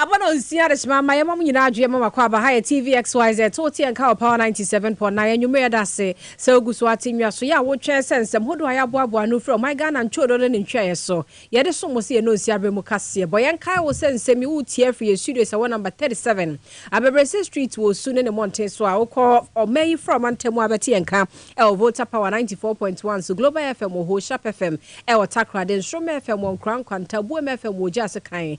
Aba na onsi adesima ma yɛma mo nyinaa adwo yɛma mo akwaaba ha yɛ TVXYZ to wote yɛn ka wɔ Power 97.9 anwummere yɛda ase sɛ wogu so ate nwaso yɛ a wotwɛn sɛ nsɛm hodoɔ a yɛaboaboa ano firi ɔman Ghana ntwodo ne ne ntweaeɛ so yɛde som mo sɛ yɛn nonsi aberɛ mu kaseɛ bɔ yɛn nkae wo sɛ nsɛm yi woretie afiri yɛn studios a ɛwɔ number 37 Abɛbrɛsɛ Street wɔ Osu ne ne mmɔnten so a wokɔ ɔman yi fra ɔmantam a bɛte yɛn ka ɛwɔ Volta Power 94.1 so Global FM wɔ hɔ Sharp FM ɛwɔ Takoradi Nsoromma FM wɔ Nkoraa Nkwanta Buem FM wɔ Ogya Sekan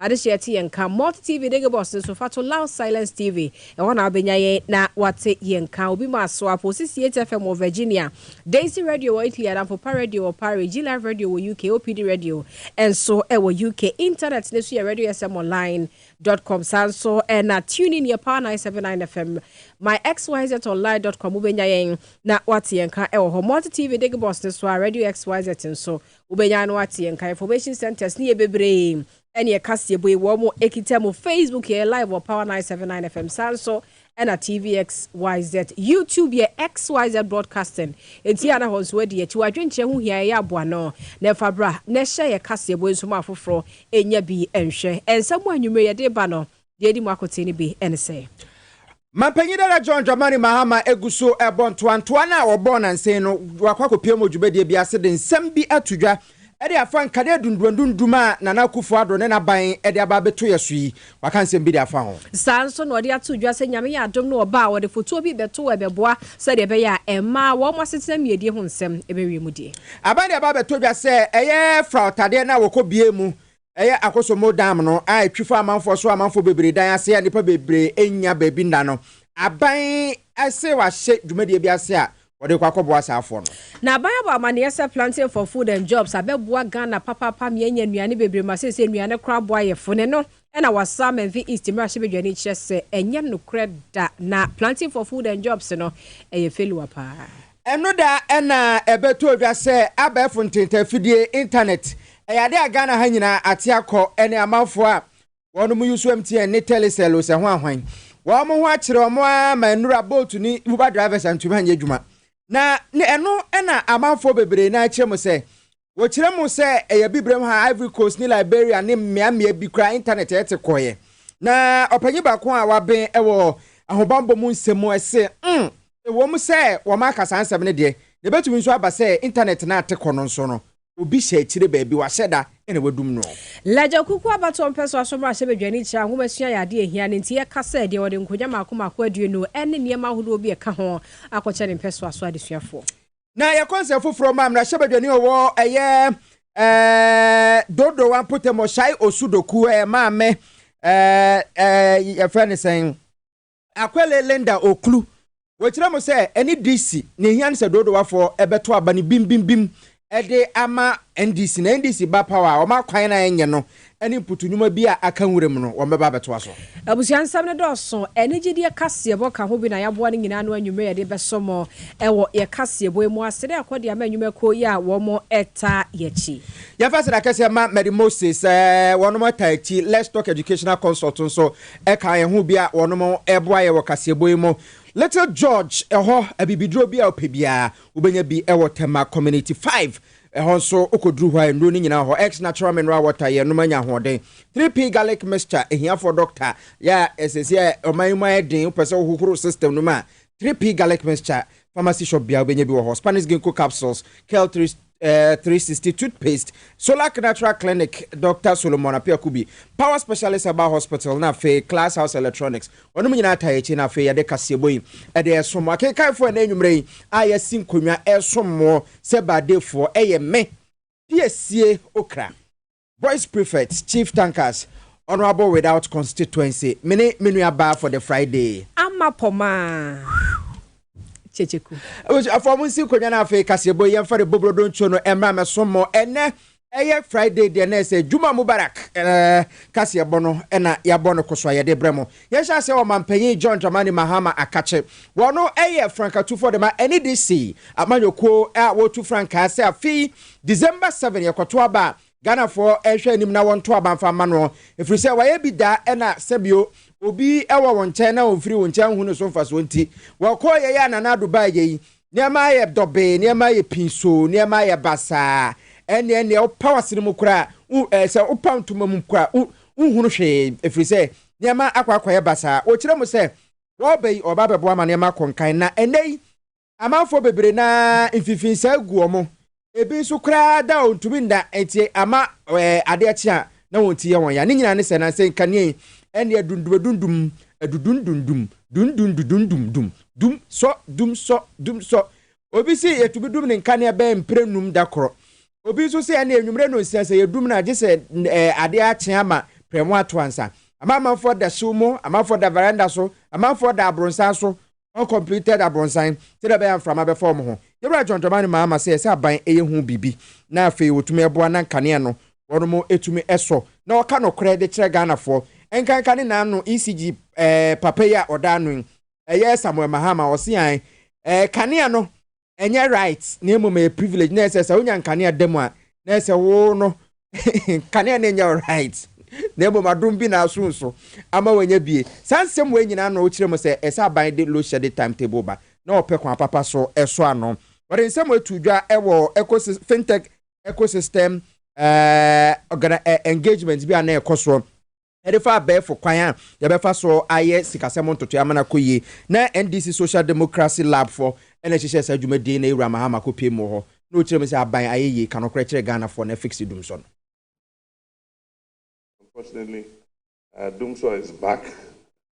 Adesua ɛte yɛn nka Multi TV Digi Box no so fa to Loud Silence TV. Ɛhɔ na wobɛnya yɛn na woate yɛn nka. Obi ma aso apo 68 FM wɔ Virginia, Daisy Radio wɔ Italy, Adamfopa Radio wɔ Paris, G Live Radio wɔ UK, OPD Radio nso wɔ UK. Intanɛt no so yɛ radiosmonline dot com. Saa nso na TuneIn yɛ Power 979 FM. MyXYZOnline dot com wobɛnya yɛn na woate yɛn nka wɔ hɔ. Multi TV Digi Box no so a Radio XYZ nso Wobɛnya ano ateɛ nka information centres ne yɛ bebree ɛne yɛ kaseɛbɔ yi wɔn ɛkita mu Facebook yɛ live wɔ Power 979 FM saa nso ɛna TVXYZ YouTube yɛ XYZ broadcasting enti yɛ anahɔ nso adi akyi wadwenkyerɛ ho hia ɛyɛ aboano na ɛfa bra na ɛhyɛ yɛ kaseɛbɔ nso ma afoforɔ ɛnya bi ɛnhwɛ ɛnsɛm a anwummerɛ yɛde ba no Deɛ edi mu akotee no bi ne sɛ. Mampanyin dada John Dramani Mahama gu so rebɔ ntoantoa no a wɔbɔɔ nnansa yi no, wakɔ akɔpiam wɔ dwumadie bi ase de nsɛm bi ato dwa de afa nkanea dunduandundum a Nana Akufo Addo ne n'aban de aba abɛto yɛ so yi. Waka nsɛm bi de afa ho. Saa ara nso na ɔde ato dwa sɛ Nyame yɛ adom na ɔba a, ɔde fotuo bi rebɛto hɔ a ɛbɛboa sɛdeɛ ɛbɛyɛ a mma wɔn asetena mmiedie ho nsɛm bɛwie mu die. Aban de aba abɛto dwa sɛ ɛyɛ fraɔtadeɛ no a wɔkɔbue mu Ɛyɛ Akosombo Dam no a etwi fa amanfoɔ so a amanfoɔ bebree dan ase a nnipa bebree nnya baabi nna no, aban se wɔahyɛ dwumadie bi ase a wɔde rekɔ akɔboa saa afoɔ no. Na aban abɔ amaneɛ sɛ Planting for Food and Jobs abɛboa Ghana papaapa ma yɛanya nnuane bebree ma seesei nnuane koraa boa yɛ fo ne no na wɔasan Menfin East mmarahyɛbadwani kyerɛ sɛ ɛnyɛ nokorɛ da na Planting for Food and Jobs no yɛ failure paa. Ɛno da na ɛbɛtɔ odwa sɛ abɛɛfo ntentanfidie, internet, ɛyɛ ade a Ghana ha nyinaa ate akɔ ɛne amanfoɔ a wɔn mo usuam teɛ ne telecell o sɛ ho ahwan. Wɔn mo ho akyere wɔn ara ma nnura bolt ne uber drivers antumi anyɛ adwuma. Na ɛno na amanfoɔ bebree no ara kyerɛ mu sɛ Wɔkyerɛ mu sɛ ɛyɛ abibirem ha a Ivory Coast ne Liberia ne mmeammea bi koraa Intanɛt a ɛte kɔeɛ. Na ɔpanyin baako a waben wɔ ahobammɔ mu nsɛm se, Um, ɛwom sɛ wɔaka saa nsɛm no deɛ, na ɛbɛtumi nso aba sɛ Intanɛt no a ate kɔ no nso no, obi hyɛ akyire baabi, wahyɛ da na wadum noɔ. Lagya Kuku abatoɔ mpɛ so aso mmarahyɛ badwani kyerɛ a nwomasua yɛ adeɛ a ɛhia no nti ɛka sɛ deɛ ɔde nkonnwa mmaako mmaako aduonu ne nneɛma ahodoɔ bi a ɛka ho akɔkyɛ ne mpɛsoaso adesuafoɔ. na ɛyɛ kɔnsɛn foforɔ ma mmarahyɛbadwani ɔwɔ ɛyɛ ɛɛ dodowa mpɔtam ɔhyai osudoku ɛyɛ maame ɛɛ ɛɛ yɛfrɛ ne sɛn akwɛle linda okulu wɔkyerɛ mu sɛ ɛne dc na ehia no sɛ dodowafoɔ ɛbɛto aba no bimbimbim ɛde ama ndc na ndc ba power a wɔn akwan na ɛnyɛ no ne mputunwuma bi a aka nwura mu no, wɔbɛba abɛtoa so. Abusua nsɛm no dɔɔso. Anigyedeɛ kaseɛbɔ ka ho bi na yɛaboa no nyinaa ano anwummerɛ yɛde bɛsɔ mo wɔ yɛ kaseɛbɔ yi mu ase na yɛakɔ de ama nnwuma kuo yi a wɔn taa yɛakyi. Yɛmfa aseda kɛseɛ ma Mary Moses sɛ wɔn taa akyi Let's Talk Educational Consult nso ka yɛn ho bi a wɔn boa yɛ wɔ kaseɛbɔ yi mu. Little George hɔ abibiduro bi a wopɛ biara wobɛnya bi wɔ Tema Community five Ɛhɔ nso, wokɔduru hɔ a, nnuro no nyinaa wɔ hɔ. X Natural Mineral Water, Yɛnom anya ahoɔden. 3P Garlic Mixture, Ahiafoɔ dɔkta yɛ a ɛsɛsi a ɔman yi mu ayɛ den, wopɛ sɛ wohohoro system no mu a, 3P Garlic Mixture, pharmacy shop biara wobɛnya bi wɔ hɔ. Spanish Ginkgo Capsules, Kel 3, eh, 360 Toothpaste, Solac Natural Clinic, Dɔkta Solomon Apiakubi, Power Specialist Herbal Hospital, na afei Class House Electronics, Wɔnom nyinaa taa akyi na afei yɛde kaseɛbɔ yi de resom mo. Akenkanfoɔ ɛnɛ anwummerɛ yi a yɛasi nkonnwa resom mo sɛ Baadefoɔ ɛyɛ me, Piesie Okra, Boys Prefect, Chief Tankers, Honourable Without Constituency, me ne me nua baa for the Friday. Ama Pomaa Kyekyeku. Abusuafoɔ monsi nkonnwa na afei kaseɛbɔ yi yɛmfa de bɔ burodo nsuo no mmra mmɛsom mo ɛnɛ Ɛyɛ Friday deɛ na ɛsɛ Juma Mubarak eh, kaseɛbɔ no na yɛabɔ no koso a yɛde brɛ mo. Yɛnhyɛ aseɛ wɔ Manpanyin John Dramani Mahama Akakye. Wɔno yɛ frankatufoɔ dema NEDC amanyɔkuo a wɔtu frankaa sɛ afe yi December seven yɛkɔto aba a Ghanafoɔ nhwɛ anim na wɔnto aba mfa mma noɔ ɛfiri sɛ wayɛ bi da ɛna sɛbio obi wɔ wo nkyɛn na ɔmfiri wo nkyɛn nhu no so mfasoɔ nti wɔkɔeɛ yɛ a Nana Ado baeɛ yi Nneɛma ayɛ dɔbee, nneɛma ayɛ pinsoo, nneɛma ayɛ basaa. Ɛnneɛ nea ɔpaw ase no mu koraa, wo, ɛɛ, sɛ wopaw ntoma mu koraa, wo, wonhunu hwee, ɛfiri sɛ nneɛma akɔ akɔyɛ basaa. Wɔkyerɛ mu sɛ wɔreba yi, wɔreba abɛboa ma nneɛma akɔ nkan. Na ɛnnɛ yi, amanfoɔ bebree no ara mfimfini saa gu wɔn. Ebi nso koraa da a wɔntumi nna ntie ama ade akye a na wɔn ti yɛ wɔn ya. Ne nyinaa ne sɛ, na sɛ nkanea yi nneɛ dundum-adundum, adudundundum, dundundudundum, dum sɔ, dum sɔ, dum sɔ. Obi se yɛtumi dum ne nkanea bɛyɛ mprɛnum da korɔ. Obi nso se ɛnneɛ anwumerɛ nnɔnsia sɛ yɛdum no a, gye sɛ adeɛ akye ama prɛmo ato ansa. Amanfoɔ da hyew mu, amanfoɔ da varanda so, amanfoɔ da abronsan so, uncompleted abrɔnsan sɛdeɛ ɛbɛyɛ a mframa bɛfa wɔn ho. Yɛwura Dwɔndwɔma no maa ama sɛ ɛsɛ aban yɛ ho biribi na afei wɔtumi boa na nkanea no wɔnom tumi sɔ na wɔka nokorɛ de kyerɛ Ghanafoɔ. Nkanka ne nan no ECG papa yi a ɔda ano yi, ɛyɛ Samuel Mahama, ɔse ae, kanea no ɛnyɛ right na mmom ɛyɛ privilege na ɛsɛ sɛ wonya nkanea da mu a na ɛsɛ wo no nkanea no nyɛ right na mmom adom bi na aso nso ama wanya bie saa nsɛm wei nyinaa na ɔkyerɛ mu sɛ ɛsɛ aban de load shedding timetable ba na ɔpɛ kwan papa so ɛso ano wɔde nsɛm wei to dwa ɛwɔ ecosystem fintech ecosystem ɛɛ engagement bi a na ɛkɔ soɔ de fa abɛɛfo kwan a yɛbɛfa so ayɛ sikasɛm ntotoe ama no akɔ yie. Na NDC Social Democracy Lab fɔ na ɛhyehyɛɛ saa dwumadie yi na Ewura Mahama kɔ pue mu wɔ hɔ na ɔkyerɛ mu sɛ aban ayɛ yie, ka nokorɛ kyerɛ Ghanafoɔ na fix Dumsɔ no. Unfortunately, Dumsor is back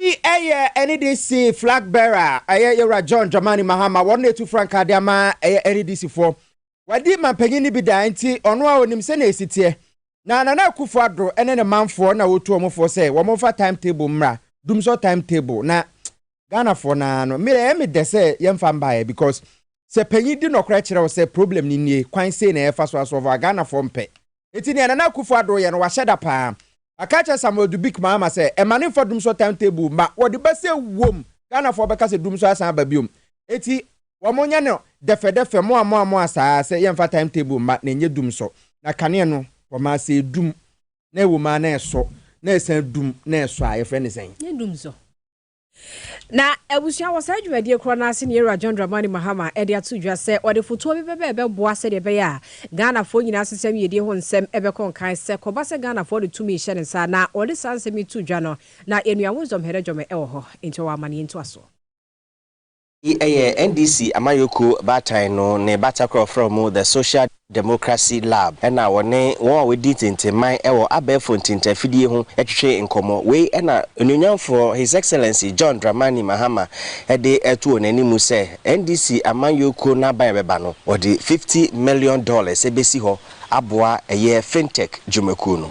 Eyi ɛyɛ NEDC flag bearer a ɛyɛ Yɛwura John Dramani Mahama, wɔn na etu frankaa de ama ɛyɛ NEDC foɔ. Wadi manpanyin no bi daa nti ɔno ara onim sɛnea esi teɛ. Na Nana Akufo Addo ne ne manfoɔ na wotu wɔn foɔ sɛ wɔn mfa time table mmra, dumsor time table, na Ghanafoɔ no ara no, me ɛyɛ me dɛ sɛ yɛmfa mbaeɛ because sɛ panyin di nɔkorɛ kyerɛ wo sɛ problem no nie, kwan sei na yɛfa so asɔlve a, Ghanafoɔ mpɛ. Enti nea Nana Akufo Addo yɛ no wahyɛ da paa. Waka akyerɛ Samuel Dubic Mahama sɛ ɛma no mfa Dumsor time table mma wɔde ba sɛ wom Ghanafoɔ bɛka sɛ Dumsor asan aba biom. Enti wɔn nyɛ no dɛfɛdɛfɛ moa moa moa saa sɛ yɛmfa time table mma na ɛnyɛ Dumsor. Na kanea no wɔma ara sɛ ɛdum na ɛwom ara na ɛsɔ na ɛsan dum na ɛsɔ a yɛfrɛ no sɛn? Ɛnyɛ Dumsor. Na abusua wɔ saa dwumadie korɔ no ase ne Yɛwura John Dramani Mahama de ato dwa sɛ ɔde fotoɔ bi bɛba ɛbɛboa sɛdeɛ ɛbɛyɛ a Ghanafoɔ nyinaa asesɛm yiedie ho nsɛm bɛkɔ nkan sɛ kɔba sɛ Ghanafoɔ de tumi rehyɛ ne nsa a na ɔde saa nsɛm yi too dwa no na yɛn nua Wisdom Herejome wɔ hɔ nti ɔwɔ amaneɛ ntoasoɔ. Yi ɛyɛ NDC amayɔkuo baatan no ne batakoro a wɔfrɛ wɔn The Social Democracy Lab ɛna wɔne wɔn a wɔdi ntentenman ɛwɔ abɛɛfo ntintafidie ho ɛtwetwe nkɔmɔ. Wei ɛna Onuonyamfoɔ His Excellency John Dramani Mahama ɛde ɛto wɔn animu sɛ NDC amayɔkuo no aban a ɛbɛba no wɔde fifty million dollars ɛbɛsi hɔ aboa ɛyɛ Fintech dwumakuo no.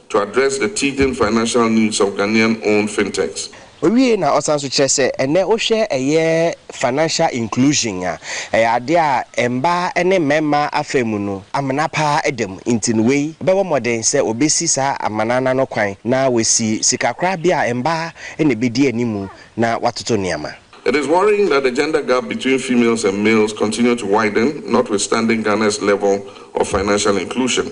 to address the teething financial needs of Ghanaian-owned fintechs. Owiei na ɔsan nso kyerɛ sɛ ɛnnɛ wohwɛ ɛyɛ financial inclusion a, ɛyɛ adeɛ a mmaa ne mmarima afa mu no amena pa ara da mu nti no wei bɛbɔ mmɔden sɛ wɔbɛsi saa amena no ano kwan na wɔasi sikakorabea a mmaa na ɛbɛdi animu na wɔatoto nneɛma. It is worrying that the gender gap between females and males continue to widen notwithstanding Ghana's level of financial inclusion.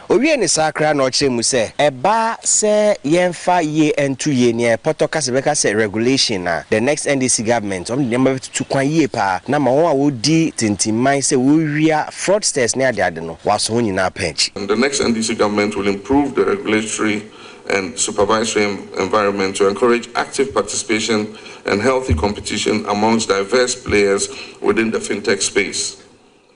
Owiee ne sakra na ɔkyerɛɛ mu sɛ, Ɛba sɛ yɛmfa yie nto yei nea ɛpɔtɔ ka sɛ bɛka sɛ regulation a, the next NDC government wɔde nneɛma bɛtutu kwan yie paa na ama wɔn a wɔdi tintimman sɛ wɔrewia fraudsters ne adeade no wɔaso wɔn nyinaa paa akyi. The next NDC government will improve the regulatory and supervisory environment to encourage active participation and healthy competition amongst diverse players within the fintech space.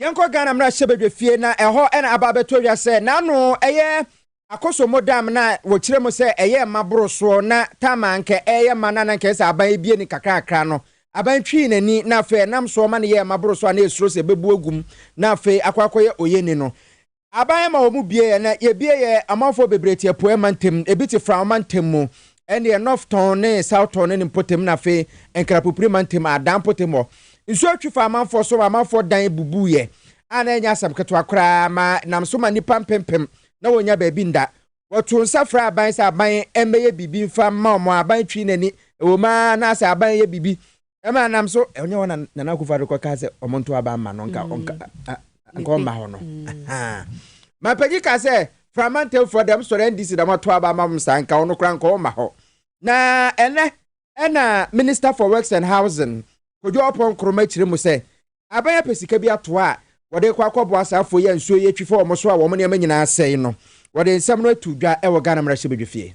Yɛnkɔ Ghana mmarahyɛbadwa fie na ɛhɔ na aba abɛtɔ dwa sɛ n'ano yɛ akosombo dam na wɔkyerɛ mu sɛ ɛyɛ mma boro soɔ na tam a anka ɛreyɛ mma no a na anka ɛsɛ sɛ aban abie no kakrakra no, aban twii n'ani na afei ɛnam soɔ ma no yɛɛ mma boro so a na ɛsuro sɛ ɛbɛbu agu mu na afei akɔ akɔyɛ oyeni no. Aban ma wɔn bue yɛ na yɛbue yɛ amanfoɔ bebree te apueɛ mantam, ebi te Fram mantam mu, ɛnneɛ Northton ne Southton ne ne mpɔtam na afei Nkrapopiri mantam a Adan mpɔtam hɔ. Nsuo twe faa amanfoɔ so ma amanfoɔ dan bubuiɛ a na ɛnyɛ asɛm ketewa koraa ma nam so ma nnipa mpempem na wɔnnya baabi nda. Wɔtoo nsa frɛɛ aban sɛ aban mmɛyɛ biribi mfa mma wɔn a aban twee n'ani, ɛwom ara na sɛ aban yɛ biribi Ɛma nam so ɛnyɛ hɔ na Nana Akufo-Addo kɔkaa sɛ wɔnto aba mma no nka ɔnka nka ɔmma hɔ no. Mapagyi kaa sɛ Frama Ntɛmfua dɛm sɔre NDC na wɔato aba ama wɔn saa nka ɔno koraa nka ɔmma hɔ. Na ɛnɛ ɛna Minister for Works and Housing Kojo Oppong Nkrumah kyerɛ mu sɛ aban apɛ sika bi ato a wɔde rekɔ akɔboa saa afoɔ yi a nsuo yi atwi fa wɔn so a wɔn nneɛma nyinaa asɛe no. Wɔde nsɛm no ato dwa wɔ Ghana Mmarahyɛbadwafie.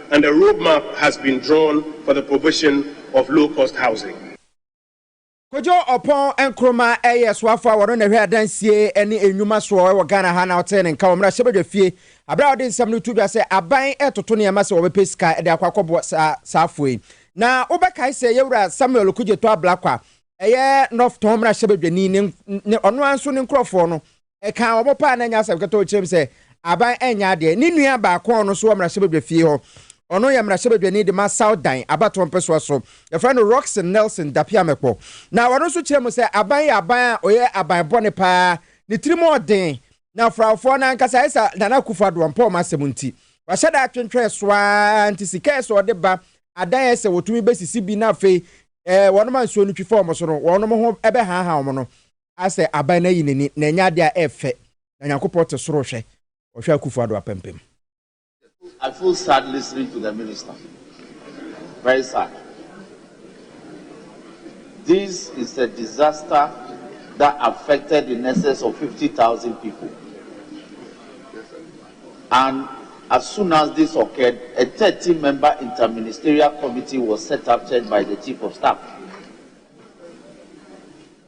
and a road map has been drawn for the provision of low cost housing. Kojo Oppong Nkrumah yɛ soafo a ɔno na ɛhwɛ adansie ne nnwuma soɔ wɔ Ghana ha na ɔtee ne nka wɔ mmarahyɛbadwafie berɛ a ɔde nsɛm no to dwa sɛ aban retoto nneɛma sɛ wɔbɛpɛ sika de akɔ akɔboa saa saafo yi. Na wobɛkae sɛ Yɛwura Samuel Okudzeto Ablakwa, ɛyɛ North Tɔn mmarahyɛbadwani ne ɔno ara nso ne nkurɔfoɔ no Ɛkaa wɔn paa na ɛnyɛ asɛm ketewaa kyerɛm sɛ Aban nyɛ adeɛ. Ne nua baako a ɔno nso wɔ mmarahyɛbadwa fie hɔ. Ɔno yɛ mmarahyɛbadwani de ma South Dan abatoɔ mpɛsoa so. Yɛfrɛ no Rockson Nelson Dapiamekpo. Na ɔno nso kyerɛ mu sɛ Aban yɛ aban a ɔyɛ aban bɔne paa. Ne tirim ɔden. Na frawfoɔ no ankasa ayɛ sɛ Nana Akufo Addo ɔmpɛ wɔn asɛm nti. Wahyɛ da atwentwɛn so ara nti sika ɛsɛ ɔde ba adan a ɛsɛ wɔtumi bɛsisi bi na afei wɔnom a nsuo no twi fa wɔn so no wɔnom ho bɛhaahaa wɔn no asɛ aban no ayi n'ani na ɛnyɛ ade a ɛyɛ fɛ, na Nyankopɔn te soro hwɛ, ɔhwɛ Akufo Addo apampam. I feel sad listening to the minister very sad this is a disaster that affected the nurses of fifty thousand people and as soon as this occurred a thirteen member interministerial committee was set up chaired by the chief of staff.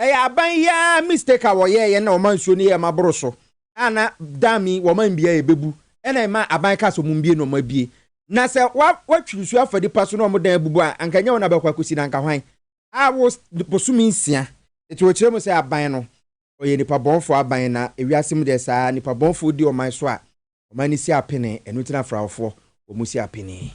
Ɛyɛ aban yi ara mistake a wɔyɛɛ yɛ na wɔma nsuo no yɛɛ ma boro so a na dam yi wɔma mbie a ɛbɛbu ɛna ɛma aban kaa sɛ wɔn mbie na wɔn abie na sɛ wa watwi nsuo afa nipa so na wɔn dan abubu a anka nyɛ wɔn na bɛkɔ akɔsi na anka hwan a wo bosome nsia nti wɔkyerɛ mu sɛ aban no ɔyɛ nipa bɔnfoɔ aban na ewiase mu deɛ saa nipa bɔnfoɔ di ɔman so a Ɔman no si apene, ɛno nti na Farofoɔ wɔn si apene.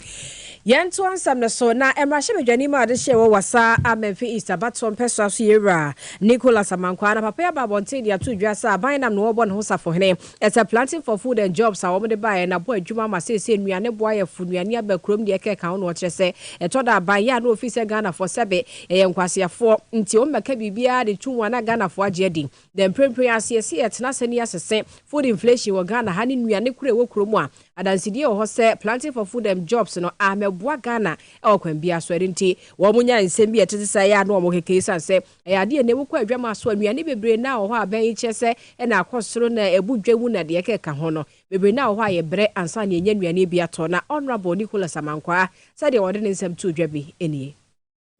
Yɛntoa nsɛm no so, Na mmarahyɛbadwani mu adehyeɛ wɔ Wassa a Menfi East abatoɔ mpɛsoa so yɛwura Nicholas Amankwah na papa yi aba abɔnten de ato dwa sɛ aban nam na ɔrebɔ ne ho safohene ɛsɛ planting for food and jobs a wɔde baeɛ na bɔ adwuma ama seesei nnuane boayɛfo nnuane aba kurom deɛ ɛka ɛka ho na ɔkyerɛ sɛ ɛtɔ da aban yɛ a na ɔfiri sɛ Ghanafoɔ sɛbe yɛyɛ nkwaseafoɔ nti wɔmmɛka biribiara de to mu a na Ghanafoɔ agye adi Dɛ mprempren ara, sɛ yɛse yɛtena ase na yɛse se food inflation wɔ Ghana ha ne nnuane koro a ɛwɔ kuro mu a, adansedie wɔ hɔ sɛ Planting for Food and Jobs no ammɛboa Ghana wɔ kwan biara so. Ɛno nti, wɔn nya nsɛm bi a ɛtete saa yi a na wɔn keke esiane sɛ ɛyɛ adeɛ a na ɛwɔ kɔ adwama so a nnuane bebree na wɔ hɔ a bɛn kyerɛ sɛ na akɔ soro na ɛbu dwa mu na deɛ ɛkeka ho no bebree na wɔ hɔ a yɛ brɛ ansa na yɛnya nnuane bi atɔ. Na Honourable Nicholas Amankwaa sɛdeɛ ɔde ne nsɛm too dwa bi nie.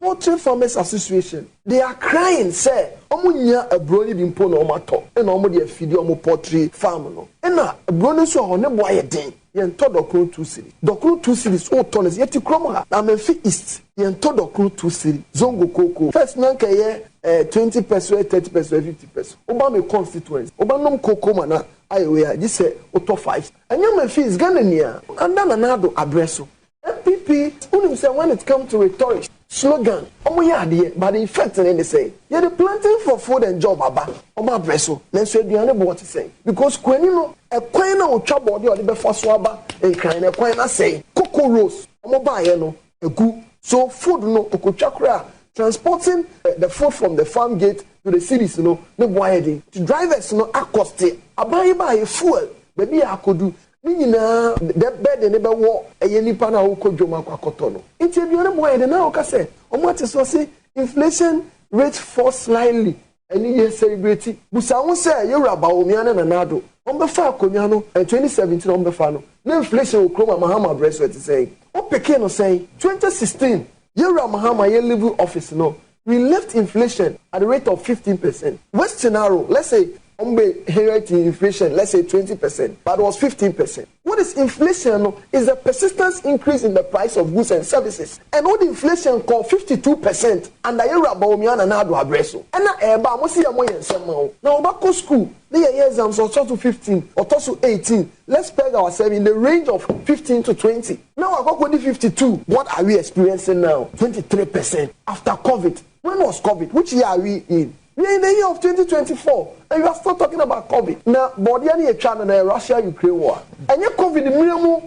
Poultry Farmers Association, they are crying sɛ ɔmo nnya aburo no bi mpo na ɔmo atɔ ɛna ɔmo de afidi ɔmo poultry farm no ɛna aburo no nso wɔ hɔ ne bo ayɛ den yɛn tɔ dɔkono two cedis dɔkono two cedis wo tɔ no sɛ yɛte kurom ha Amenfi East yɛn tɔ dɔkono two cedis zongo kookoo first na nka ɛyɛ ɛɛ twenty peso ɛyɛ thirty peso ɛyɛ fifty peso wo ba me constituency wo bɛ nom kookoo ma na ayɛ wei a gye sɛ wo tɔ five ɛnyɛ Amenfi East Ghana nyinaa under Nana Addo abrɛ so NPP wonim sɛ when it come to rhetorics, slogan, ɔmo yɛ adeɛ but the effect no ne sɛn? Yɛde planting for food and job aba ɔmo abrɛ so nanso aduane boɔ te sɛn? Because kuani no ɛkwan no a ɔtwa bɔɔde a ɔde bɛfa so aba Nkran no ɛkwan no asɛe, cocoa roast ɔmo baeɛ no agu so food no ɔkɔtwa koraa transporting the food from the farm gate to the cities no ne boɔ ayɛ den nti drivers no akɔste aban yi baeɛ fuel baabi a akɔdu Ne nyinaa dɛ bɛ de ne bɛ wɔ ɛyɛ nipa no a ɔkɔ dwom akɔ akɔtɔ no nti aduane boɔ yɛ dɛ na ɔka sɛ ɔmo ate sɛ ɔse inflation rate fall slightly ɛne yɛ celebrate busa ho sɛ yɛ wura Bawumia ne Nana Addo ɔmo bɛ fa akonwa no ɛn twenty seventeen ɔmo bɛ fa no na inflation wɔ kurom ha Mahama brɛ so ɛte sɛn ɔpeke no sɛn twenty sixteen yɛ wura Mahama yɛ live office no we lift inflation at the rate of fifteen percent worst scenario let's say wɔn bɛ inherit inflation let's say twenty percent but was fifteen percent what is inflation no is the persistence increase in the price of goods and services and wɔde inflation kɔ fifty two percent under yɛ wura Bawumia Nana Addo abrɛ so ɛna ɛɛba a wɔn si yɛ mo yɛ nsɛm ma wo na wɔba kɔ school ne yɛ yɛ exams ɔtɔ so fifteen ɔtɔ so eighteen let's peg ourselves in the range of fifteen to twenty. na wakɔkɔdi fifty two. What are we experiencing now twenty three percent after covid when was covid which year are we in we are in the year of twenty twenty four and you are still talking about covid na bɔɔdeɛ no yɛtwa no na yɛ Russia Ukraine war ɛnyɛ covid mmerɛ mu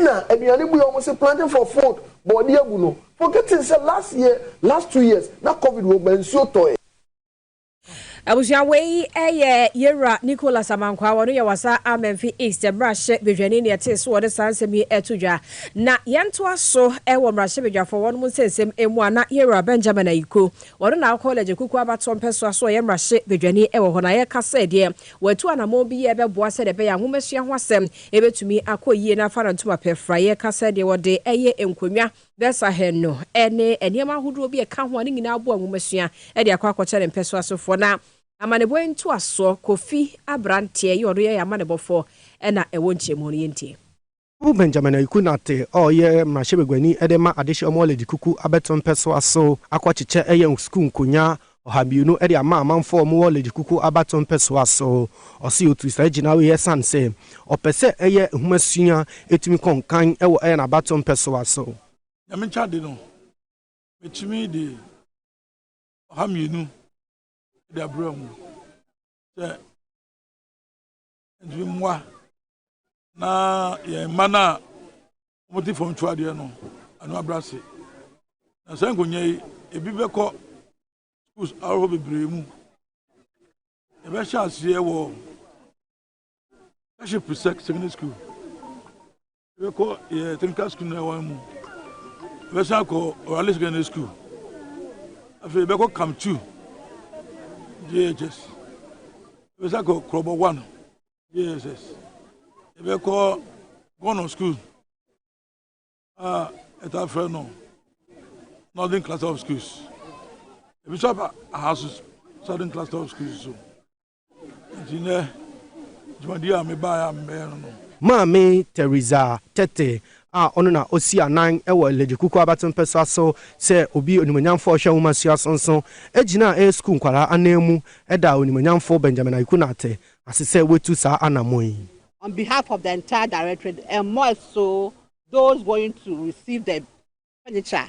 na aduane bu yɛ wɔn se planting for food bɔɔdeɛ abu no forgetting sɛ last year last two years na covid wɔ ba nsuo tɔɛ. Abusua wei yɛ Yɛwura Nicholas Amankwaa, ɔno yɛ Wasa Amenfi East Mmarahyɛ Badwani nea ɛtee so wɔde saa nsɛm yi to dwa. Na yɛntoa so wɔ Mmarahyɛ Badwafoɔ wɔnom nsɛnsɛm mu a na Yɛwura Benjamin Ayiko, ɔno na ɔkɔ Legye Kuku abatoɔ mpɛsoa so ɔyɛ Mmarahyɛ Badwani wɔ hɔ na yɛka sɛ deɛ wɔatu anamɔn bi yɛ bɛboa sɛdeɛ ɛbɛyɛ a nwomasua ho asɛm bɛtumi akɔ yie na afa no ntoma pɛ fra yɛka sɛ deɛ wɔde yɛ nkonnwa Dɛsahɛn no ne nneɛma ahodoɔ bi a ɛka ho a ne nyinaa boa nwomasua de akɔ akɔkyɛ ne mpɛsoa sofoɔ. Na amanebɔ yi ntoasoɔ kɔ fi aberanteɛ yɛ ɔno yɛ yɛn amanebɔfoɔ na ɛwɔ nkyerɛmu no yɛntie. Ɔwoo Benjamin Ayiku Nartey a ɔyɛ mmarahyɛbaguani de ma adehyeɛ Ɔmɔlɛgye Kuku abɛto mpɛsoa so akɔkyekyɛ yɛn sukuu nkonyaa ɔhabiunu de ama amanfoɔ a wɔn wɔ Lady Kuku abatoɔ mpɛsoa so. Ɔse ɔtuu saa gyinae yi ɛsan sɛ ɔpɛ sɛ ɛyɛ nwoma sua ɛtumi kɔ nkan wɔ ɛyɛ n'abatoɔ mpɛsoa so. Nyame kya de no mɛtumi de ɔha mmienu de abrɛ mo sɛ. Ntumi mmoa na yɛn mma no a wɔte fam tu adeɛ no ano abra ase. Na saa nkonnwa yi, ebi bɛkɔ schools ahorow bebree mu. Yɛbɛhyɛ aseɛ wɔ Kaship Secondary School. Yɛbɛkɔ yɛ technical school no ɛwan mu. Yɛbɛsan akɔ Orale Secondary School. Afei yɛbɛkɔ Camp 2 JHS. Yɛbɛsan akɔ Krɔbɔ 1 JSS. Yɛbɛkɔ Gɔnɔ School a ɛtaa frɛ no Northern Cluster of Schools. Ebi nso aba Ahasu Southern Cluster of Schools so. Enti nnɛ, dwumadi a mebae a mebɛyɛ no no. Maame Theresa Tete a ɔno na osi anan wɔ Legye Kuku Abaten Pɛsoa so sɛ obi onimuonyamfo a ɔhwɛ nwomasua so nso gyinaa ɛyɛ sukuu nkwadaa ananmu daa onimuonyamfo Benjamin Ayiku Nartey ase sɛ watu saa anammɔn yi. On behalf of the entire Directorate and more so those going to receive the furniture,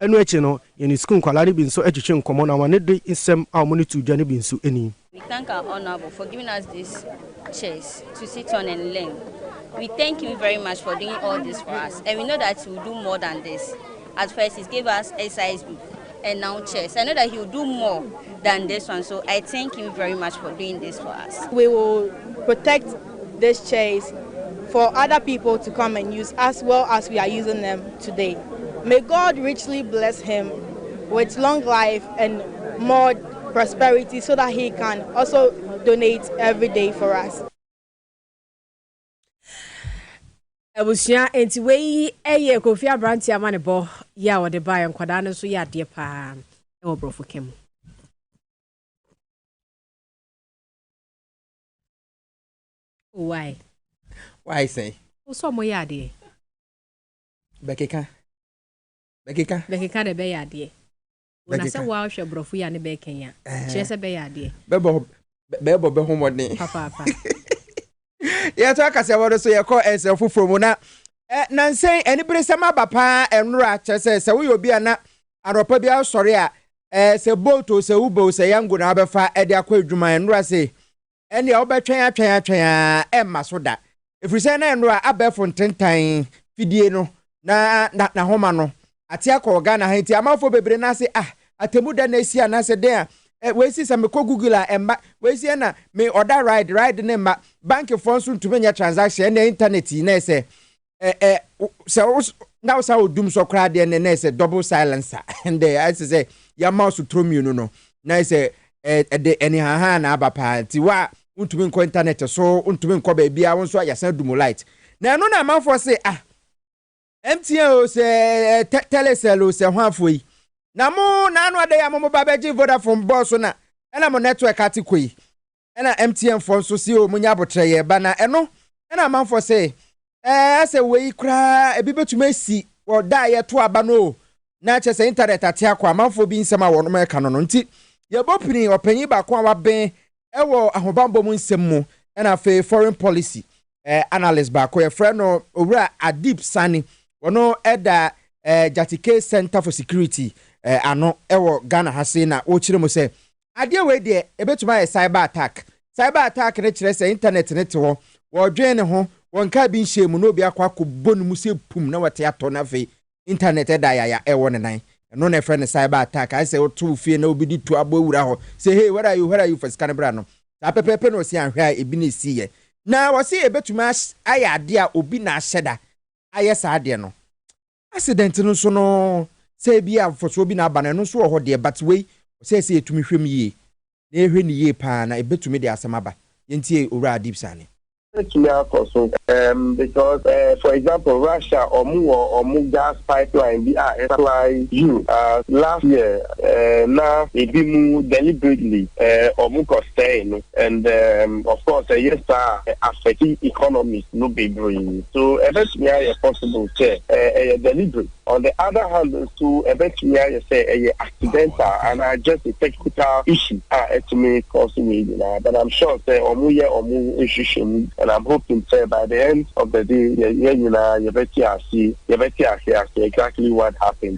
Ɛno akyi no, yɛne sukuu nkwadaa no bi nso twetwee nkɔmmɔ na wɔn de nsɛm a wɔde too dwa no bi nso nii. We thank our honourable for giving us this chairs to sit on and learn. We thank him very much for doing all this for us and we know that he will do more than this. At first he gave us exercise book and now chairs. I know that he will do more than this one so I thank him very much for doing this for us. We will protect this chairs for other people to come and use as well as we are using them today may God richly bless him with long life and more prosperity so that he can also donate every day for us. abusua nti wei yɛ kofi aberante ama ne bɔ yɛ a wɔde baeɛ nkwadaa no nso yɛ adeɛ paa wɔ borɔfo ka mu Oh, why? Why sɛn? Wo sɛ ɔmo yɛ adeɛ. Bɛkeka. Bɛkeka. Bɛkeka na ɛbɛyɛ adeɛ. Bɛkeka. Na sɛ woa hwɛ borɔfo yi a ne bɛɛka yi a, kyerɛ sɛ bɛyɛ adeɛ. Bɛbɔ bɛbɔ bɛ ho mmɔden. Papaapa. Yɛto akasɛbɔ no so yɛkɔ nsɛm foforɔ mu na eh, nansɛn aniberesɛm aba paa ɛnora kyerɛ sɛ sɛ woyɛ obi a na anɔpa biara sɔre a eh, sɛ boat o sɛ uber o sɛ yango na abɛfa ɛde akɔ adwuma ɛnora se ɛnneɛ wobɛtwɛn atwɛn atwɛn ara ɛremma so da. Ɛfiri sɛ na nnora abɛɛfo ntentan fidie no na na n'ahoma no ate akɔ wɔ Ghana ha nti amanfoɔ bebree nan ase ah atemu dɛn na asi anaasɛ dɛn a eh, wei si sɛ mekɔ Google a ɛmma wei si ɛna me ɔda ride ride ne mma bankifoɔ nso ntumi nyɛ transaction ɛna internet yi na ɛsɛ ɛ ɛ sɛ wo na wo saa odum sɔ koraa deɛ ne na ɛsɛ double silencer ɛndɛ ɛsɛ sɛ yɛama wo so turo mmienu no na ɛsɛ ɛde ɛnihaha na aba paa nti wo a wontumi nkɔ internet so wontumi nkɔ baabi a wo nso a yɛsan dumu light na ɛno na amanfoɔ se ah MTN o sɛ ɛ telecell o sɛ ho afoɔ yi na mo na ano adɛ yɛ a mo mo ba bɛgye Vodafone bɔɔl so na ɛna mo network ate kɔ yi ɛna MTN foɔ nso se oo monya abotrɛ yɛ ba na ɛno ɛna amanfoɔ se ɛɛ asɛ wei koraa ebi betumi asi wɔ da a yɛto aba no oo na kyɛ sɛ internet ate akɔ amanfoɔ bi nsɛm a wɔnom ɛka no no nti yɛbɔ pini ɔpanyin baako a waben ɛwɔ ahobanbɔ mu nsɛm mu ɛna afei foreign policy ɛɛ analyst baako yɛfrɛ no owura Adip Sani wɔno ɛda ɛɛ Jatike Center for Security ɛɛ ano ɛwɔ Ghana ha se na wɔkyerɛ mu sɛ Adeɛ wei deɛ ɛbɛtumi ayɛ cyber attack. Cyber attack no kyerɛ sɛ internet no te hɔ, wɔredwen ne ho, wɔnkaa bi nhyɛɛ mu na obi akɔ akɔbɔ no mu sɛ pum na wate atɔ na afei internet ɛda yaya ɛwɔ ne nan. Ɛno na ɛfrɛ no cyber attack. Ayɛ sɛ woto wo fie na obi de tuo abɔ awura hɔ sɛ hey where are you, where are you, fa sika no bra no. Saa pɛpɛɛpɛ na ɔse anhwɛ a ebi na ɛsiiɛ. Na ɔse ɛbɛtumi ayɛ adeɛ a obi na ahyɛda ayɛ saa adeɛ no. Accident no nso no, sɛ ebia mfasoɔ bi na aba no, ɛno nso wɔ hɔ deɛ, but wei, ɔsɛɛ sɛ yɛtumi hwɛ mu yie, na yɛhwɛ no yie pa ara, na ɛbɛtumi de asɛm aba. Yɛntie Owura Adib Sane. Ɛbɛtumi akɔ so, um, because, eh, for example, Russia, wɔn wɔ wɔn gas pipeline bi a ɛsupply Europe, ah, last year, eh, na ebinom deliberately, eh, wɔn kɔ sɛe no. And um of course sɛ ɛyɛ saa a, ɛ affect economies no bebree. So ɛbɛtumi ayɛ possible sɛ ɛ ɛyɛ deliberate. On the other hand nso, ɛbɛtumi ayɛ sɛ ɛyɛ accidental anaa just a technical issue a ɛtumi cause wei nyinaa. But I'm sure sɛ wɔyɛ wɔn nhwehwɛmu and I'm hoping sɛ by the end of the day yɛ yɛn nyinaa yɛbɛte ase yɛbɛte ase ase exactly what happened.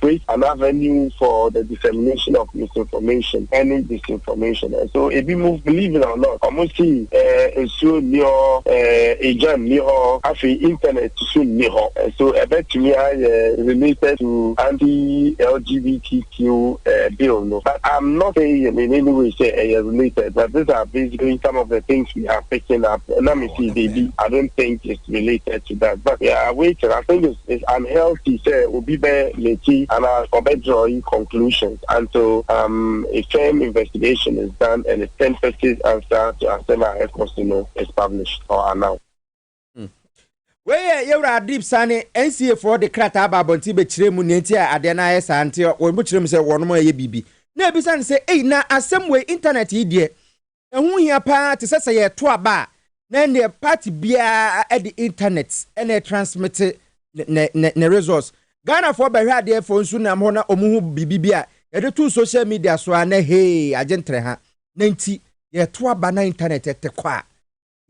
create an avenue for the dissemination of misinformation ɛne disinformation so ebi mo believe it or not ɔmo si eh, nsuo nni hɔ eh, egya nni hɔ afei internet so nni hɔ so ɛbɛtumi ayɛ related to anti LGBTQ eh, bill no but I'm not saying in any way say ɛyɛ eh, related but these are basically some of the things we have picking up na me see baby I don't think it's related to that but yeah waiting I think it's it's unhealthy sɛ obi bɛ meki ana ɔbɛ draw yi conclusions until um a firm investigation is done and a tentative answer to asɛm a ɛkɔ so no is published or announced. wei yɛ yɛwura adib sane nca foɔ de krataa ba abɔnten bɛkyerɛ mu nea nti a adeɛ no ayɛ saa nti wɔn mu kyerɛ mu sɛ wɔnom ayɛ biribi na ebisa no sɛ ei na asɛm wei internet yi deɛ Ɛho hia paa te sɛ sɛ yɛreto aba a, na ɛnneɛ party biara de internet na ɛtransmete ne results. Ghanafoɔ bɛhwɛadeɛfoɔ nso nam hɔ na wɔhu biribi bi a yɛde to social media so a na hee agye ntere ha. Na nti yɛreto aba na internet te kɔ a,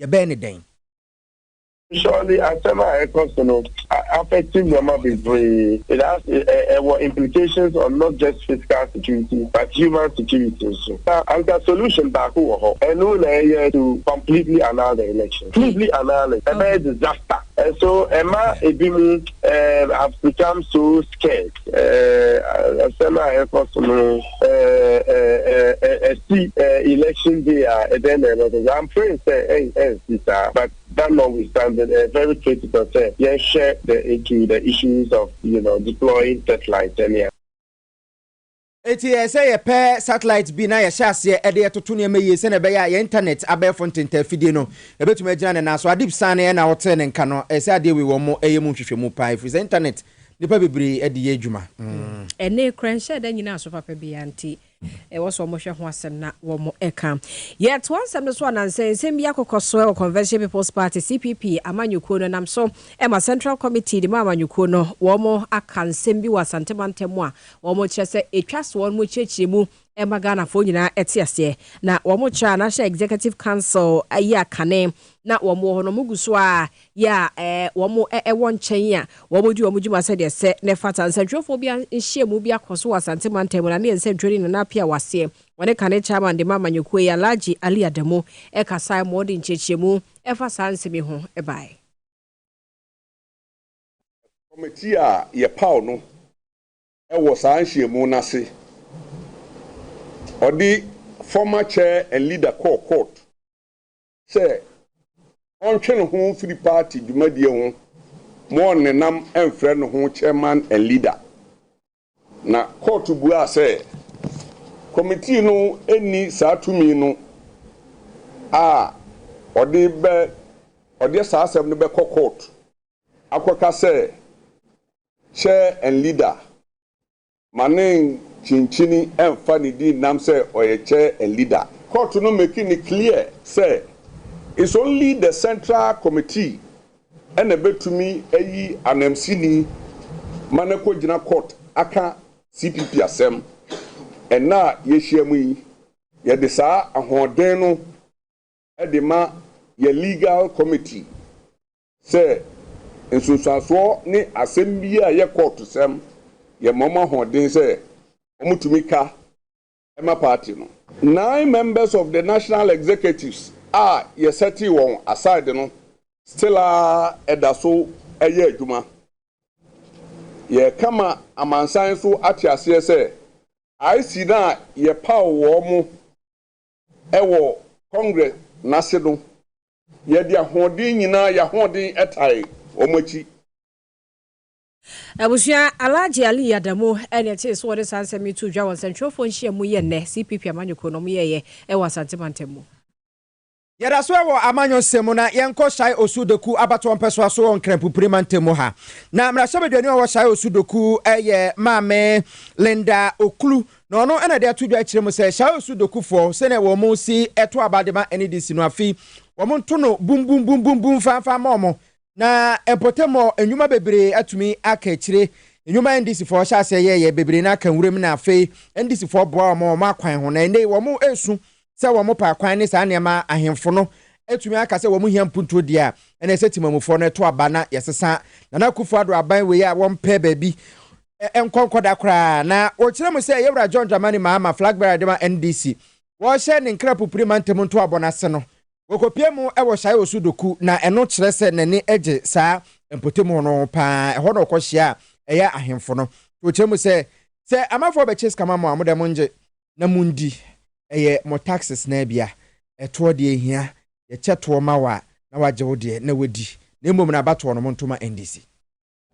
yɛbɛyɛ no dɛn? Surely asɛm a ɛkɔ so no a affect nneɛma bebree. It has ɛ ɛwɔ implications on not just physical security but human security nso. Na anka solution baako wɔ hɔ, ɛno na ɛyɛ to completely annul the election. Completely annul it. Ɛbɛyɛ disaster. Ɛso ɛma ebinom ɛɛm have become so scared. Ɛɛ asɛm a ɛkɔ so no ɛɛ ɛ ɛ ɛ ɛsi ɛ election day a ɛdɛn na ɛbɛkɔ so? I'm praying sɛ ɛn ɛnsi saa but That notwithstanding, ɛyɛ very critical sɛ yɛhwɛ the into the issues of you know deploying satellite sɛnea. Enti ɛyɛ sɛ yɛpɛ satellite bi na yɛhyɛ aseɛ de toto nneɛma yie sɛnea ɛbɛyɛ a yɛn internet abɛɛfo ntentaa afidie no ɛbɛtumi agyina ne nan so. Adib Sane na ɔtee ne nka no. Ɛyɛ sɛ adeɛ wei wɔyɛ mu nhwehwɛmu paa ɛfiri sɛ internet nnipa bebree de yɛ adwuma. Ɛnne, koranhyɛ da nyinaa so papa biara nti, ɛwɔ sɛ wɔhwɛ ho asɛm na wɔka. Yɛtoa nsɛm no so a, nansɛnsɛm bi akokɔ so wɔ Convention People's Party, CPP, amanyɔkuo no nam so ma Central Committee no mu amanyɔkuo no wɔaka nsɛm bi wɔ Asante mantam mu a wɔkyerɛ sɛ ɛtwa sɛ wɔkyerɛkyerɛ mu ma Ghanafoɔ nyinaa te aseɛ. Na wɔkyerɛ a na hyɛ Executive Council yi akane na wɔwɔ hɔ no wɔgu so a yɛ a wɔwɔ nkyɛn a wɔdi wɔn dwuma sɛdeɛ ɛsɛ na ɛfata. Nsɛntwerɛfoɔ bi nhyiamu bi akɔ so wɔ Asante mantam mu na ne yɛ nsɛntwerɛni Nana Appiah Awaseɛ, wɔne kane Chairman de ma amanyɔkuo yi, Alhaji Ali Adamu kasaeɛ ma wɔde nkyerɛkyerɛmu fa saa nsɛm yi ho baeɛ. Kɔmitii a yɛpaw no wɔ saa nhyiamu no ase, ɔde former chair and leader kɔɔ court. sɛ ɔntwe ne ho mfiri paati dwumadie ho ma ɔnnenam mfrɛ ne ho Chairman and Leader. Na kɔɔto buaa sɛ kɔmitii no nni saa tumi no a ɔde bɛ ɔdeɛ saa asɛm no bɛkɔ kɔɔto akɔka sɛ Chair and Leader Ma ne nkyinkyini nfa ne din nam sɛ ɔyɛ chair and leader. Court no make no clear sɛ it's only the central committee na ɛbɛtumi ayi anamsini ma no akɔgyina court aka CPP asɛm. Ɛnnɛ a yɛahyiam yi, yɛde saa ahoɔden no de ma yɛn legal committee Sɛ nsunsuansoɔ ne asɛm biara yɛ kɔɔtosɛm yɛ ma wɔn ahoɔden sɛ wɔn tumi ka ma party no. Nine members of the national executives a yɛ sɛtee wɔn aside no still ara da so yɛ adwuma. Yɛ ka ma amansan so ate aseɛ sɛ IC no a yɛ paw wɔn Wɔ Congress no ase no, yɛde ahoɔden nyinaa, yɛn ahoɔden tae wɔn akyi. Abusua, Alhaji Ali Adamu na ɛtee so wɔde saa nsɛm yi too dwa wɔ nsɛntwerɛfoɔ nhyiam mu yɛ nnɛ, CPP amanyɔkuo no wɔyɛeɛ wɔ Asante mantam mu. Yɛda so wɔ amanyɔ nsɛm mu na yɛnkɔ Shai Osu Dokuw abatoɔ mpɛsoa so wɔ Nkranpupiri mantam mu ha. Na mmarahyɛbadwani a ɔwɔ Shai Osu Dokuw yɛ Maame Linda Oklu Na ɔno na ɛde ato dwa akyerɛ mu sɛ Shao su dokufoɔ sɛdeɛ wɔn si to aba de ma ɛne de si no afi wɔn nto no bumbumbumbum fanfan mma wɔn na mpɔtamu nnwuma bebree atumi aka akyire nnwuma a ndisifoɔ hyɛ aseɛ yɛɛyɛ bebree no aka nwuram na afei ndisifoɔ boa wɔn wɔn akwan ho na ɛnɛ wɔn ɛresu sɛ wɔpa akwan ne saa nneɛma a ahemfo no atumi aka sɛ wɔhia mpuntuo deɛ a, ɛna ɛsɛ temamufoɔ no ɛto aba na yɛsesa Nana Akufo-Addo aban wei a wɔmpɛ baabi nkɔ nkɔda koraa. Na wɔkyerɛ mu sɛ Yɛwura John Dramani Mahama, flag bearer de ma NDC, wɔhyɛ ne nkra pupuri mantam ntoabɔ no ase no, wɔkɔpie mu wɔ Shae Osu Doku na ɛno kyerɛ sɛ n'ani gye saa mpɔtam hɔ no ho pa ara. Ɛhɔ na ɔkɔhyia a ɛyɛ ahemfo no. Nti wɔkyerɛ mu sɛ, Sɛ amafoɔ bɛkye sika ma mo a, mo deɛ mongye. na mundi. Ɛyɛ mo taxes no ara bi a, ɛtoɔ deɛ ɛhia, yɛkyɛ toɔ ma wo a, na wagye wo deɛ na wadi, na mmom no abatoɔ no monto ma NDC.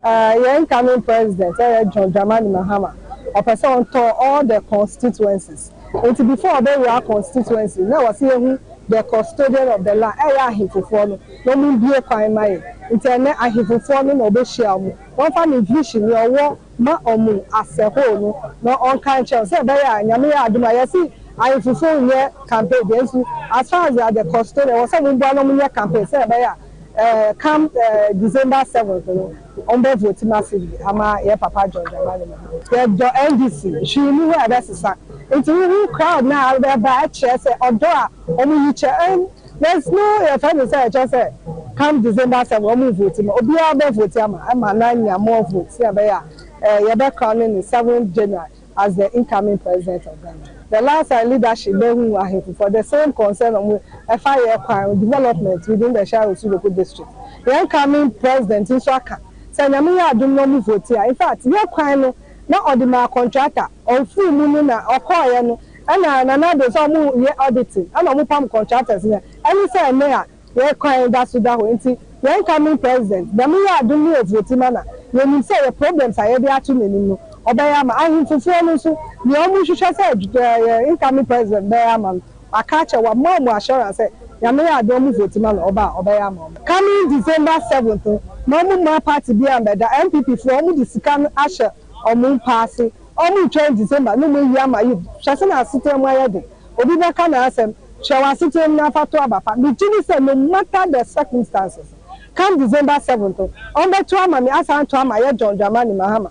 Ahh yɛn incoming president ɛyɛ John Dramani Mahama ɔpɛ sɛ ɔtɔ all the constituencies nti before ɔbɛwura constituency na ɔse yɛhu the custodian of the land ɛyɛ ahefofoɔ no na ɔmo mbue kwan ma yɛn nti ɛnɛ ahefofoɔ no na ɔbɛhyia ɔmo wɔmfa ne vision nea ɔwɔ Ma ɔmo asɛ hoo no na ɔnka nkyerɛ wo sɛ ɛbɛyɛ a Nyame yɛ adom a yɛse ahenfufo nyɛ campaign deɛ nso as far as they are the custodian ɛwɔ sɛ ɔmo boa na ɔmo nyɛ campaign sɛ ɛbɛyɛ a eh come eh December seventh no ɔmo bɛ vote ma Sidi ama yɛ papa John Dramani Mahama. Yɛdɔ NDC, hwee nni hɔ a ɛbɛsesa. Nti wohu crowd no a bɛba ɛkyerɛ sɛ ɔdɔ a ɔmo yi kyɛ Yes no yɛfrɛ no sɛ ɛkyerɛ sɛ come December seven ɔmo nvote ma obiara bɛ vote ama ɛma no anya more vote sɛnea ɛbɛyɛ a ɛɛ yɛbɛ crown no ne seventh January as the incoming president of Ghana. The last time leadership bɛ hu ahemfo for the same concern ɔmo ɛfa yɛ kwan development within the Shire Osu local district yɛ incoming president nso aka sɛ nyame yɛ adom na ɔmo vote a infact yɛ kwan no na ɔde maa contractor ɔfiri mu no na ɔkɔɔyɛ no Ɛna Nana Addo sɛ ɔmo yɛ auditing ɛna ɔmo pam contractors no ɛ. Ɛne sɛ ɛnɛ a yɛ kwan da so da hɔ nti yɛ incoming president Nyame yɛ adom ne ovote ma na yɛ nim sɛ yɛ problems a yɛde ato nanim no ɔbɛyɛ ama Ahemfofoɔ no nso nea ɔmo hwehwɛ sɛ yɛ incoming president bɛyɛ ama no waka akyɛ wama ɔmo assurance sɛ Nyame yɛ adom ɔmo vote ma no ɔba a ɔbɛyɛ ama ɔmo. Coming December seventh no ma ɔmo mmaa party biaa mbɛda NPP foɔ ɔmo de sika no ahyɛ Ɔmo mpaase, ɔmo twɛn December na ɔmo awie ama yɛn. Hwɛ sɛnea asetena mu ayɛ den. Obi bɛka n'asɛm, kyerɛw asetena mu na afa to aba pa. Me gye di sɛ no matter the circumstances, come December seventh no, ɔmo bɛto ama me, asan ato ama yɛn John Dramani Mahama.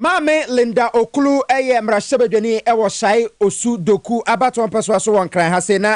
Maame Linda Oklu yɛ mmarahyɛbadwani wɔ Sai Osu Doku abatoɔ mpɛsoa so wɔ Nkran ha sei na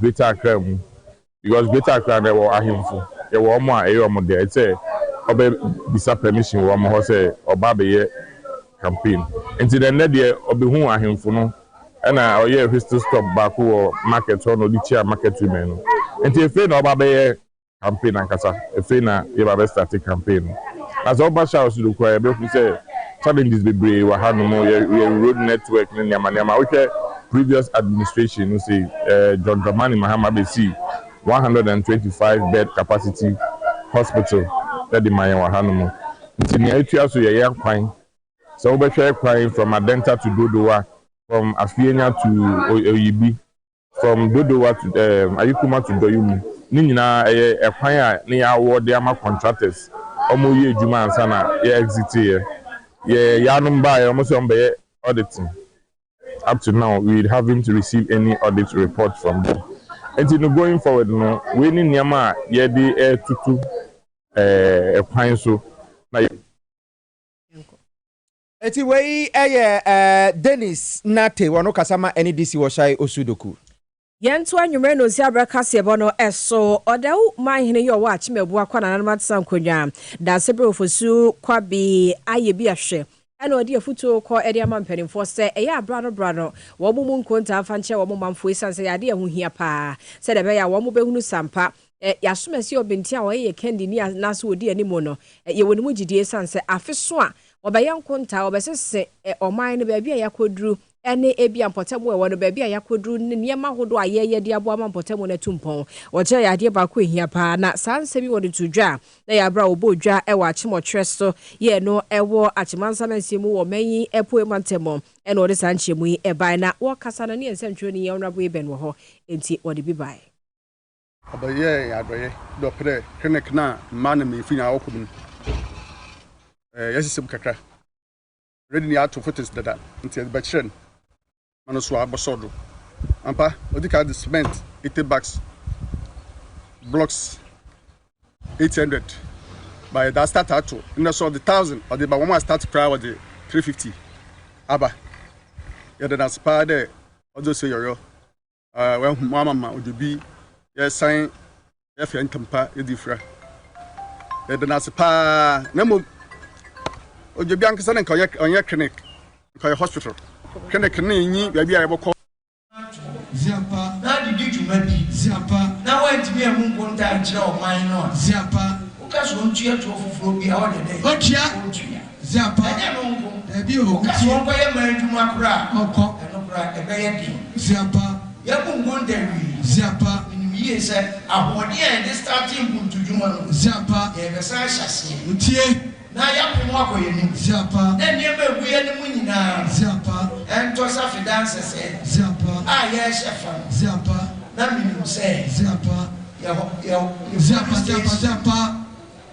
Greater Accra mu because Greater Accra no yɛwɔ ahenfo, yɛwɔ wɔn a ɛyɛ wɔn dɛ sɛ wɔbɛbisa permission wɔ wɔn hɔ sɛ wɔba abɛyɛ campaign. Nti na ɛnnɛ deɛ ɔbɛhuu ahenfo no na ɔyɛɛ whistle stop baako wɔ market hɔ na ɔde kyiaa market women no. Nti ɛfei na ɔba abɛyɛ campaign ankasa ɛfei na yɛba bɛ starte campaign no na sɛ woba Charles do koraa yɛbɛhu sɛ challenges bebree wɔ ha nom yɛ yɛ road network ne nneɛma nneɛma wohwɛ previous administration no sei eh, John Dramani Mahama bɛsii 125 bed capacity hospital ɛde ma yɛn wɔ ha nom nti nea ɛtua so yɛ yɛn kwan sɛ wobɛhwɛ kwan from Adenta to Dodowa from Afienya to Oyibi From Dodowa to um, Ayikuma to Doyumu, ne nyinaa ɛyɛ ɛkwan a ne yɛ awɔ de ama contractors, ɔmo yɛ adwuma ansa na yɛ exit yɛ. Yɛ yaanom baayɛ, ɔmo sɛ ɔmo bɛyɛ auditing, up to now we haven't received any audit report from them. Nti no going forward no, wei ne nneɛma a yɛ de ɛɛtoto ɛɛ ɛkwan so na yɛ. Eti wei yɛ Dennis Nartey wɔ no kasa ma ɛne DC wɔ Shai Osu Doku. Yɛn to anwummerɛ no nsi abrɛ kaseɛbɔ no so. Ɔdawu man hene yi ɔwɔ Akyem Abua kwa nananom atesa nkonnwa. Daasebre Ofosu Kwabi ayɛ bi ahwɛ ɛna ɔde afutuo kɔ de ama mpaninfoɔ sɛ ɛyɛ a bra no bra no wɔn mu nkontaa mfa nkyɛ wɔn manfoɔ esiane sɛ ɛyɛ adeɛ a ɛho hia paa sɛdeɛ ɛbɛyɛ a wɔn bɛhunu sampa Ɛ, Y'asomasi Ɔbentin a ɔyɛ yɛ Kɛndi ni a n'ase odi anim no, ɛ, yɛwɔ ne mu gyidie esiane sɛ afe so a ɔbɛyɛ nkontaa, ɔbɛsese ɛ, ɔman no, baabi a y'akɔduru ɛne ebia mpɔtam a ɛwɔ no, baabi a y'akɔduru ne nneɛma ahodoɔ a yɛyɛ de aboa ama mpɔtam no atu mpɔn. Ɔkyerɛ yɛ adeɛ baako a ɛhia paa, na saa nsɛm yi wɔde too dwa a na ɛyɛ aberɛ a wɔbɔɔ dwa wɔ akyem ɔtwerɛ so yɛɛ no wɔ Akyem-Ansa Mansin mu wɔ ɔman yi Apueɛ Mantam mu na wɔde saa nkyerɛmu yi baeɛ. Na wɔkasa no ne yɛn nsɛntwerɛni, yɛn Honourable Eben wɔ hɔ, enti ɔde bi baeɛ. Ɔbɛyɛɛ yɛn adɔyɛ dɛ ɔpɛ dɛ Kenneth na mbaa na mbanyinfo nyina wɔkɔ mu no, yɛsesa mu kakra. Already no yɛato footings dada ntsi yɛdze bɛkyerɛ no ma no so ɔabɔsɔw do. Ampa, odzi kan dze cement eighty bags, blocks eight hundred ba yɛdze astart ato, ndɛ so ɔdze thousand ɔdze ba, hɔn a wɔastart koraa wɔdze three fifty aba. Yɛda no ase paa dɛ ɔdze osie yɔyɔ wahu mu ama ma ɔde bi yɛsan yɛfɛ ntampa yɛde fira yɛde no ase paa na mmom ɔde bi ankasa no nka ɔnyɛ clinic nka ɔyɛ hospital clinic no nyi baabi a yɛbɛkɔ Ziapa. Na adidi dwuma bi. Ziapa. Na wantumi ammu nkonta ankyerɛ ɔman no a. Ziapa. Woka sɛ ɔntua toɔ foforɔ biara ɔde dɛn? Ɔtua. Ɔntua. Ziapa, Ɛnyɛ ɛno nko. Daabi o, Woka sɛ wotie. wɔnkɔyɛ man adwuma koraa a, Ɔnkɔ. ɛno koraa ɛbɛyɛ den. Ziapa, Yɛabu nkonta awie. Ziapa, Menim yie sɛ ahoɔden a yɛde startee mpuntudwuma no, Ziapa, yɛrebɛsan ahyɛ aseɛ wotie. na yɛapem ho akɔ yɛn anim. Ziapa, Na nneɛma a ɛgu yɛn anim nyinaa no, Ziapa, ɛntɔ sɛ afedaa nsɛsɛɛ Ziapa, a yɛrehyɛ fa no. Ziapa, Na menim sɛ Ziapa, yɛhɔ, yɛhɔ, yɛhɔ Ziapa, Ziapa, Ziapa.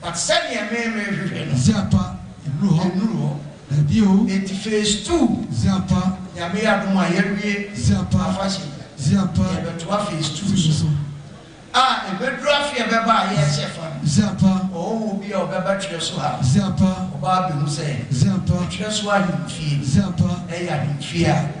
But sɛdeɛ me me hwehwɛ no. Dze apa nnuru hɔ. Nnuru hɔ. Dabi o. Enti phase two. Dze apa. Nyame adom a yɛawie. Dze apa. Afahyɛ yi a. Dze apa. Yɛbɛtoa phase two so. Phase two so. A ɛbɛduru afe ɛbɛba a yɛrehyɛ fa no. Dze apa. Ɔhɔhoɔ bi a ɔbɛba twerɛ so ha. Dze apa. Ɔbaa bɛhu sɛ. Dze apa. Twerɛ so ahemfie. Dze apa. Ɛyɛ ahemfie a.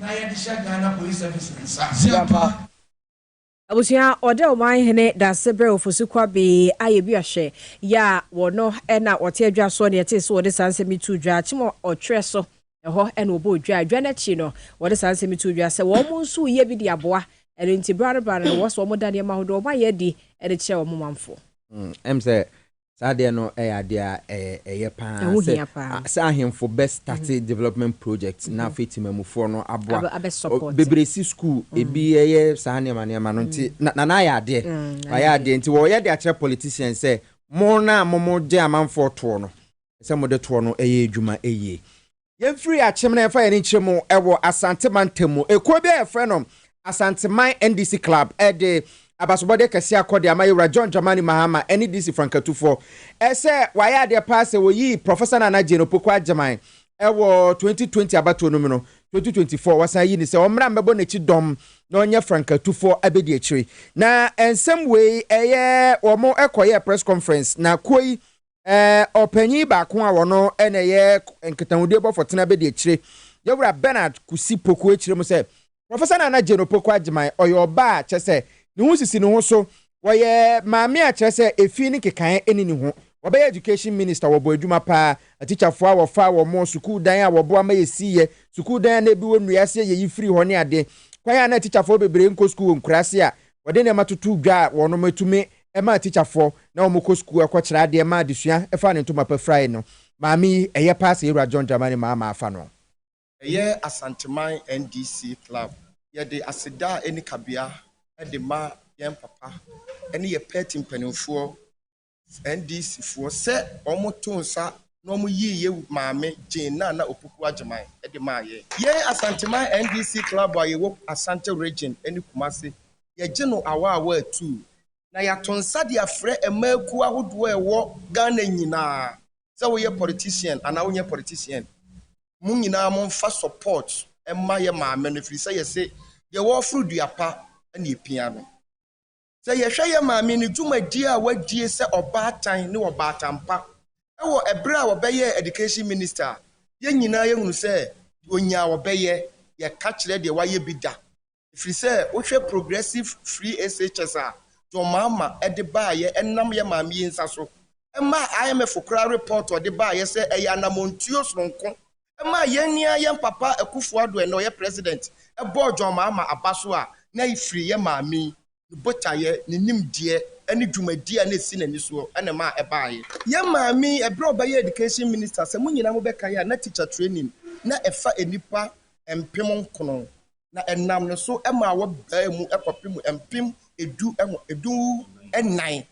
na yɛde hyɛ Ghana Police Service ne nsa. Ziampa. Abusua ɔda ɔman hene Dasebere Ofosu Kwabee Ayebiahwɛ yɛ a wɔ no na wɔte adwa soɔ na yɛtee sɛ wɔde saa nsɛm yi too dwa akyem ɔtwerɛ so ɛhɔ na wɔbɔɔ dwa adwa no akyi no wɔde saa nsɛm yi too dwa sɛ wɔn nso reyɛ bi de aboa ɛno nti berɛ ano berɛ ano no wɔsɛ wɔn da nneɛma ahodoɔ wɔn ayɛ adi de kyerɛ wɔn manfoɔ. Ɛm sɛ Saa adeɛ no yɛ adeɛ a ɛyɛ pa ara sɛ sɛ ahemfo bɛ start development projects na afei temamufoɔ no aboa bebree si school ebi ɛyɛ saa nneɛma nneɛma no nti Nana ayɛ adeɛ wayɛ adeɛ nti wɔyɛ de akyerɛ politicians sɛ mo no a mo mo gye amanfoɔ toɔ no sɛ mo de toɔ no ɛyɛ adwuma yie Yɛn firi akyem na yɛfa yɛn ani kyerɛ mu wɔ Asante mantam mu. Ekuo bi a yɛfrɛ no Asanteman NDC Club de abasobɔdeɛ kɛseɛ akɔ de ama Yɛwura John Dramani Mahama ne DC Frankatufoɔ sɛ wayɛ adeɛ paa sɛ wɔyii Professor Nana Jane Opoku Agyemang wɔ 2020 abatoɔ no mu no, 2024 wasan ayi no sɛ ɔmmra mmɛbɔ n'akyi dɔm na ɔnyɛ Frankatufoɔ abɛdi akyire. Na nsɛm wei ɛyɛ wɔn kɔyɛɛ press conference na kuo yi Ɛɛ, ɔpanyin baako a ɔno na ɛyɛ nkitahodie bɔfo tena bedi akyire, Yawura Bernard Kusi Poku akyire mu sɛ, Professor Nana Jane Opoku Agyemang, ɔyɛ ɔbaa a kyerɛ sɛ ne ho sisi ne ho so, ɔyɛ maame a kyerɛ sɛ efi ne nkekaeɛ nni ne ho, ɔbɛyɛ Education Minister, ɔbɔ adwuma paa, atikyafoɔ a wɔfaa wɔn, sukuu dan a wɔboa ma yɛsiiɛ, sukuu dan a na ebi wɔ nnua ase a yɛyi firii hɔ ne adeɛ, kwan a na atikyafoɔ bebree nkɔ sukuu wɔ nkuraase a wɔde nneɛma toto dwa a wɔatumi ɛmaa tikyafoɔ na wɔn kɔ sukuu kɔ kyerɛ adeɛ ma adesua ɛfaa ne ntoma pa firae no maame yi ɛyɛ paa sɛ yɛwura John Dramani Mahama afa no. Ɛyɛ Asanteman NDC Club. Yɛde aseda a ɛnni kabea de ma yɛn papa ne yɛn party mpanimfoɔ, NDC foɔ, sɛ wɔn too nsa na wɔn yii yɛn maame Jane Nana Opoku Agyeman de maa yɛn. Yɛn Asanteman NDC Club a yɛwɔ Asante Region ne Kumasi yɛgye no awaawaa atuu, na yɛato nsa de afrɛ mmaa akuo ahodoɔ a ɛwɔ Ghana nyinaa sɛ woyɛ politician anaa wonyɛ politician, mo nyinaa momfa support mma yɛ maame no ɛfiri sɛ yɛse deɛ wɔforo dua pa na ɛpia no. Sɛ yɛhwɛ yɛ maame no dwumadie a wadie sɛ ɔbaatan ne ɔbaatan pa wɔ ɛberɛ a ɔbɛyɛɛ Education Minister a, yɛn nyinaa yɛhunu sɛ deɛ ɔnyaa ɔbɛyɛ, yɛka kyerɛ deɛ wayɛ bi da. Ɛfiri sɛ wohwɛ Progressive Free SHS a John Mahama de baeɛ ɛnam yɛ maame yi nsa so ɛmaa IMF koraa report ɔde baeɛ sɛ ɛyɛ anamɔntuo sononko ɛmaa yɛn nua yɛn papa Akuffo-Addo ɛnɛ ɔyɛ President bɔɔ John Mahama aba so a na ɛfiri yɛ maame yi ne botaeɛ, ne nimdeɛ, ne dwumadie a na ɛsi n'ani soɔ na ɛma ɛbaeɛ. Yɛn maame yi, ɛberɛ a ɔbɛyɛɛ Education Minister, sɛ mo nyinaa mobɛkae a, na Teacher Training na ɛfa nnipa mpem nkron, na ɛnam ne so maa wɔbaa mu kɔpem mpem du du nnan.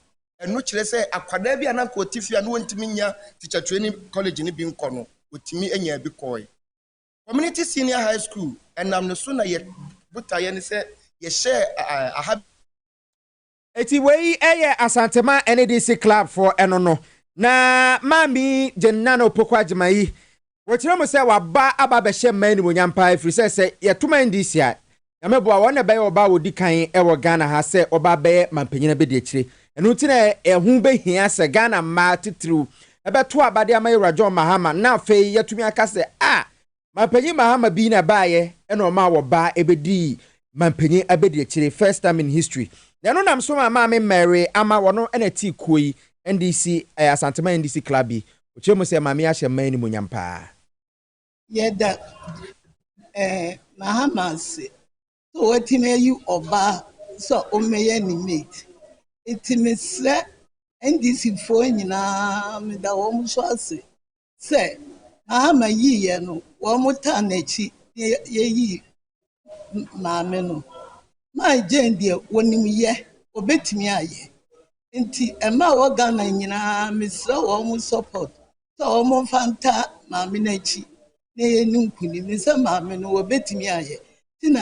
Ɛno kyerɛ sɛ akwadaa bi a na anka ɔte fie a na ɔntumi nnya Teacher Training College no bi nkɔ no, ɔtumi nyaa bi kɔeɛ. Community Senior High School, ɛnam ne so na yɛ botaeɛ ne sɛ yɛhyɛɛ aha. Eti wei yɛ Asantema NADC Club foɔ ɛno no. Na Maame Jane Nana Opoku Agyemayi, wɔkyerɛ mu sɛ waba aba abɛhyɛ mmaa animuonyam paa ɛfiri sɛ sɛ yɛto ma NDC a, Nyame boa wɔn na ɛbɛyɛ ɔbaa a ɔdi kan wɔ Ghana ha sɛ ɔbaa bɛyɛ manpanyin abɛdiakyire. Ɛno nti na ɛho bɛhia sɛ Ghana mmaa titiriw bɛto aba de ama Yewura John Mahama na afei yɛatumi aka sɛ a Manpanyin Mahama bi na ɛbaeɛ na ɔmaa ɔbaa bɛdii manpanyin abɛdiakyire, first time in history. Na ɛno nam so ma Maame Mary Ama, ɔno na ɛte kuo yi NDC, Asanteman NDC Club yi. Ɔkyerɛ mu sɛ Maame ahyɛ mmaa animuonyam paa. Yɛda eh Mahama ase sɛ watumi ayi ɔbaa sɛ ɔmmɛyɛ ne mate. Nti mesrɛ NDC foɔ nyinaa meda wɔn nso ase sɛ Mahama yiiɛ no wɔn taa n'akyi na yɛyi maame no. Mai Gyɛn deɛ ɔnim yɛ, ɔbɛtumi ayɛ. Nti mmaa wɔ Ghana nyinaa mesrɛ wɔn support sɛ wɔmfa nta maame no akyi na ɛyɛ no nkunim ne sɛ maame no wɔbɛtumi ayɛ ti na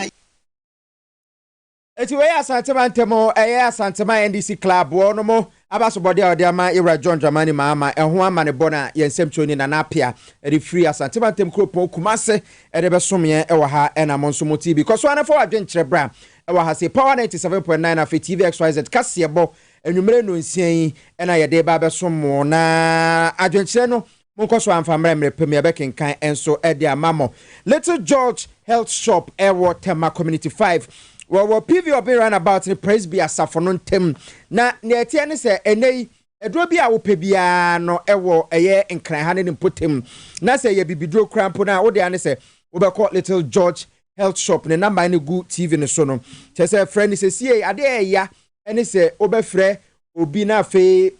Eti wei yɛ Asantema ntam o, ɛyɛ Asantema NDC Clubfoɔ no mo abasobɔdeɛ a wɔde ama Yewura John Dramani Mahama ɛho amanebɔ no a yɛn nsɛmtwerɛni Nana Apea de firi Asantema ntam kuropɔn Kumase de bɛsomeɛ ɛwɔ ha ɛna mo nso mo ti bi. Kɔ so ara na fa w'adwenkyerɛ bra ɛwɔ ha sei, Power 97.9 afei TV XYZ kaseɛbɔ Anwummere nnɔnsia yi na yɛde reba abɛsom mo, na adwenkyerɛ no, monkɔ so amfa mmrɛ mmerɛ pa mu, yɛbɛkenkan nso de ama mo. Little George Health Shop wɔ Tema Community Five, wɔwɔ PV Obin Runabout ne Presby Asafo no ntam, na nea ɛteɛ ne sɛ, ɛnnɛ yi, aduro bi a wopɛ biara no wɔ ɛyɛ Nkran ha ne ne mpɔtam, na sɛ ɛyɛ bibiduro koraa mpo no a, wo dea ne sɛ wobɛkɔ Little George Health Shop, ne number no gu TV no so no, kyerɛ sɛ frɛ no sesie, adeɛ ɛɛya, ne sɛ wobɛfrɛ obi na afei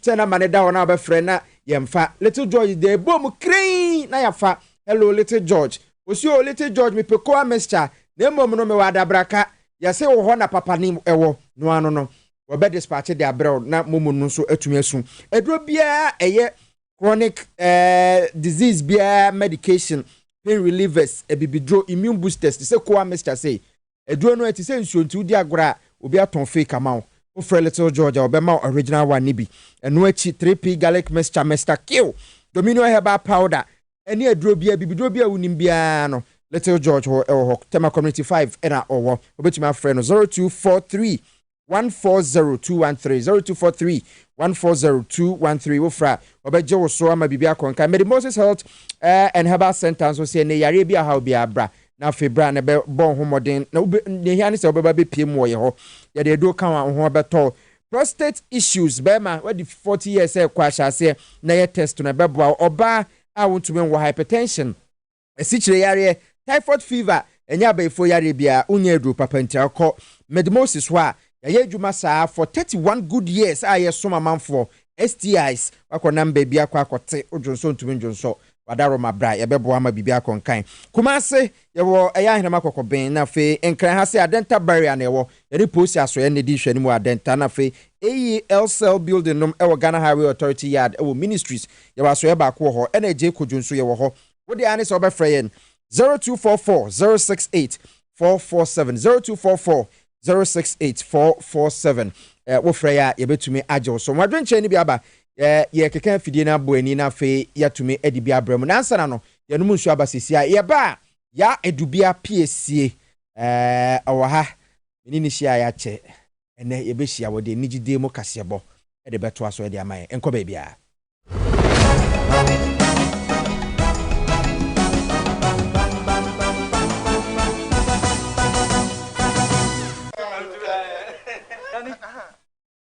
sɛ namba no da hɔ na wobɛfrɛ na yɛmfa little george deɛ ɛbɔ mu kren na yɛafa hello little george osi o little george mepɛ koa mixture na mmom no mewɔ adabraka yɛse wɔ hɔ na papa ne ɛwɔ no ano no wɔbɛ dispatch de abrɛ wo na momu no nso atumi asu aduro biara ɛyɛ chronic eh, disease biara medication pain relievers abibiduro immune boosters te sɛ koa mixture sei Aduro no ɛte sɛ nsuo nti wodi agorɔ a obi atɔn fake ama wo. Wofrɛ Little George a ɔbɛma wo original one no bi. Ɛno akyi 3P Garlic Mixture Mister Q, Dominion Herbal Powder ɛne aduro biara bibiduro biara a wonim biara no Little George hɔ ɛwɔ hɔ. Tema Community five ɛna ɔwɔ. Wobɛtumi afrɛ no zero two four three 140213, 0243 140213, wo frɛ a, wɔbɛgye wo so ama biribi akɔ nka. Mede Moses Health eh, and Herbal Center nso sɛ ɛnɛ yareɛ bi a haw biara bra na afei bra na bɛbɔ ho mmɔden na deɛ hia ne sɛ wobɛba bɛpie mu wɔ yɛ hɔ. Yɛde aduro ka ho a wo ho bɛtɔ wo. Prostate issues, bɛrima wadi 40 years ɛrekɔ ahyɛ aseɛ na yɛ test no ɛbɛboa wo. Ɔbaa a wontumi nwo, hypertension, Asikyire yareɛ, Typhoid fever ɛnyɛ abayifoɔ yareɛ biara, wonyɛ aduro papa ntia wokɔ Medmosis hɔ a, yayɛ adwuma saa for thirty one good years a yɛsom amanfoɔ, STIs, wakɔ nam baabi akɔ akɔ te, wodwonsɔ ntumi ndwonsɔ, wadaroma bra yɛbɛboa ama biribi akɔ nkan. Kumase, yɛwɔ ɛyɛ ahenema kɔkɔben na afei nkran ha se adenta barrier na ɛwɔ, yɛne posi asoɛɛ na ɛdi nhwɛanim wɔ adenta na afei AEL cell building nom ɛwɔ Ghana Highway Authority yard ɛwɔ ministries, yɛwɔ asoɛɛ baako wɔ hɔ ɛna agye kojo nso yɛwɔ hɔ, Wo deɛ ara ne sɛ wobɛfrɛ yɛn, zero two four four zero six eight four four seven, zero two four four zero six eight four four seven. Ɛɛ wofrɛ yɛn a yɛbɛtumi agye wo so. Wɔn adwenkyerɛ no bi aba, ɛɛ yɛrekeka afidie no abɔ ani na afei yɛatumi adi bi abrɛ mu. Nansana no yɛnom nsuo aba sisi a yɛba a ya adubia pie sie, ɛɛ ɔwɔ ha me ne no hyia a yɛakyɛ ɛnɛ yɛbɛhyia wɔde anigyedie mu kaseɛbɔ de bɛtoa so de ama yɛn. Nkɔ baabiara.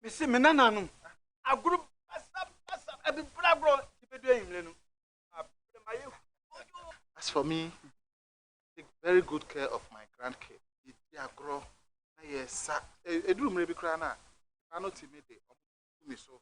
mese me nananom agoro basabasa abibra agorɔ yɛbɛdu ayimmerɛ no abrɛmayɛ as for me take very good care of my grandkid yɛdi agorɔ na yɛsa ɛduru mmerɛ bi koraa no a ɛba no tumi de ɔmo tumi so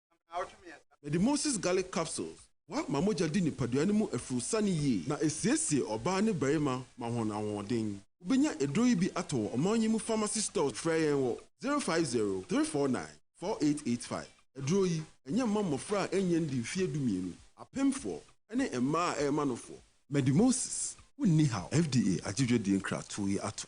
Mede Moses Garlic Capsules boa ma mogya di nipadua no mu afurusane yie na ɛsiesie ɔbaa ne barima ma wɔn ahoɔden. Wobɛnya aduro yi bi atɔ wɔ ɔman yi mu pharmacy stores. Frɛ yɛn wɔ zero five zero, three four nine, four eight eight five. Aduro yi, ɛnyɛ mma mmɔfra a ɛnyɛ ndi mfeɛ dumienu, apemfoɔ, ne mmaa a ɛrema nofoɔ. Mede Moses Wo Nni Haw FDA agye dwadie nkratoɔ yi ato.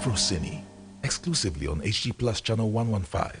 Afrocine, exclusively on HG Plus Channel 115.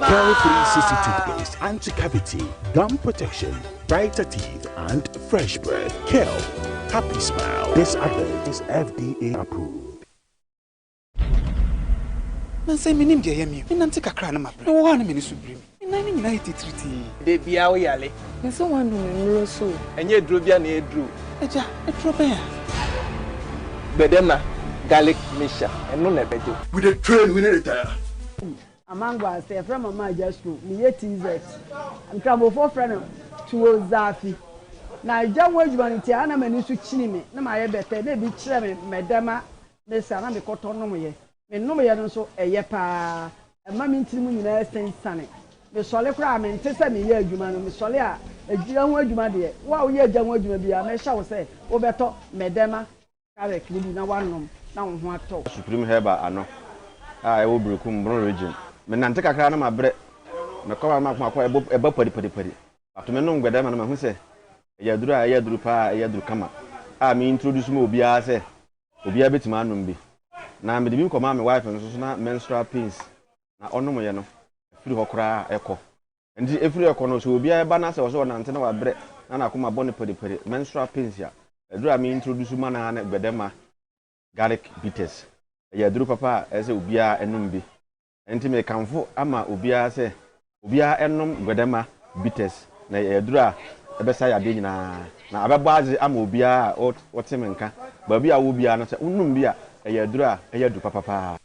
Pearl 360 toothpaste, anti-cavity, gum protection, brighter teeth, and fresh breath. Pearl, happy smile. This advert is FDA approved. Nansa yi mennim deɛ ɛyɛ me o. Menante kakra a na mabrɛ. Mewɔ hɔ a na m'ani so biri me. Me nan no nyinaa yɛ titiritii. Da biara wo yare. Me se woanu me mmuro so o. Ɛnyɛ aduro biara na ɛyɛ duru o. Agya, aduro bɛn a? Gbɛdɛma garlic mixture, ɛno na ɛbɛgye wo. We dey train, we no retire. Amangwa sɛ yɛfrɛ mama agya suro meyɛ TZ nkramofoɔ frɛ no tuo zaafi na agya ho adwuma no nti a na m'ani so kyini me na mayɛ bɛtɛ na ebi kyerɛ me mɛdɛma me saa na mekɔtɔ nomyɛ me nomyɛ no nso ɛyɛ paa ɛma me ntiri mu nyinaa sensane mesɔle koraa a mente sɛ meyɛ adwuma no mesɔle a agya ho adwuma deɛ wo a woyɛ agya ho adwuma biara mɛhyɛ wo sɛ wobɛtɔ mɛdɛma Carrot no bi na woanom na wo ho atɔ wo. Supreme Herbal ano a ɛwɔ Berekum, Brong Region. Me nante kakra na mabrɛ. Me kɔma no mako mako a ɛbɔ ɛba pari pari pari. But me nom Gbɛdɛma no mahu sɛ ɛyɛ aduru a ɛyɛ aduru paa a ɛyɛ aduru kama a me introduce ma obiara sɛ obiara bɛtumi anom bi. Na mede bi kɔmaa me wife nso so na menstrual pains na ɔnom yɛ no ɛfiri hɔ koraa ɛkɔ. Enti ɛfiri rekɔ no, sɛ obiara ɛba na sɛ ɔsɛ ɔnante na wabrɛ na n'akoma bɔ no periperi, menstrual pains, a, aduro a me introduce ma no ara ne Gbedemma Garlic Bitters. Ɛyɛ aduro papa a ɛsɛ sɛ obiara ɛnom bi. Enti mekamfo ama obiara sɛ obiara ɛnom Gbedemma Bitters na ɛyɛ aduro a ɛbɛsa yadeɛ nyinaa na abɛbɔ adze ama obiara a ɔte me nka baabi a ɔwɔ biara no sɛ wonom bi a ɛyɛ aduro a ɛyɛ adu papapaa.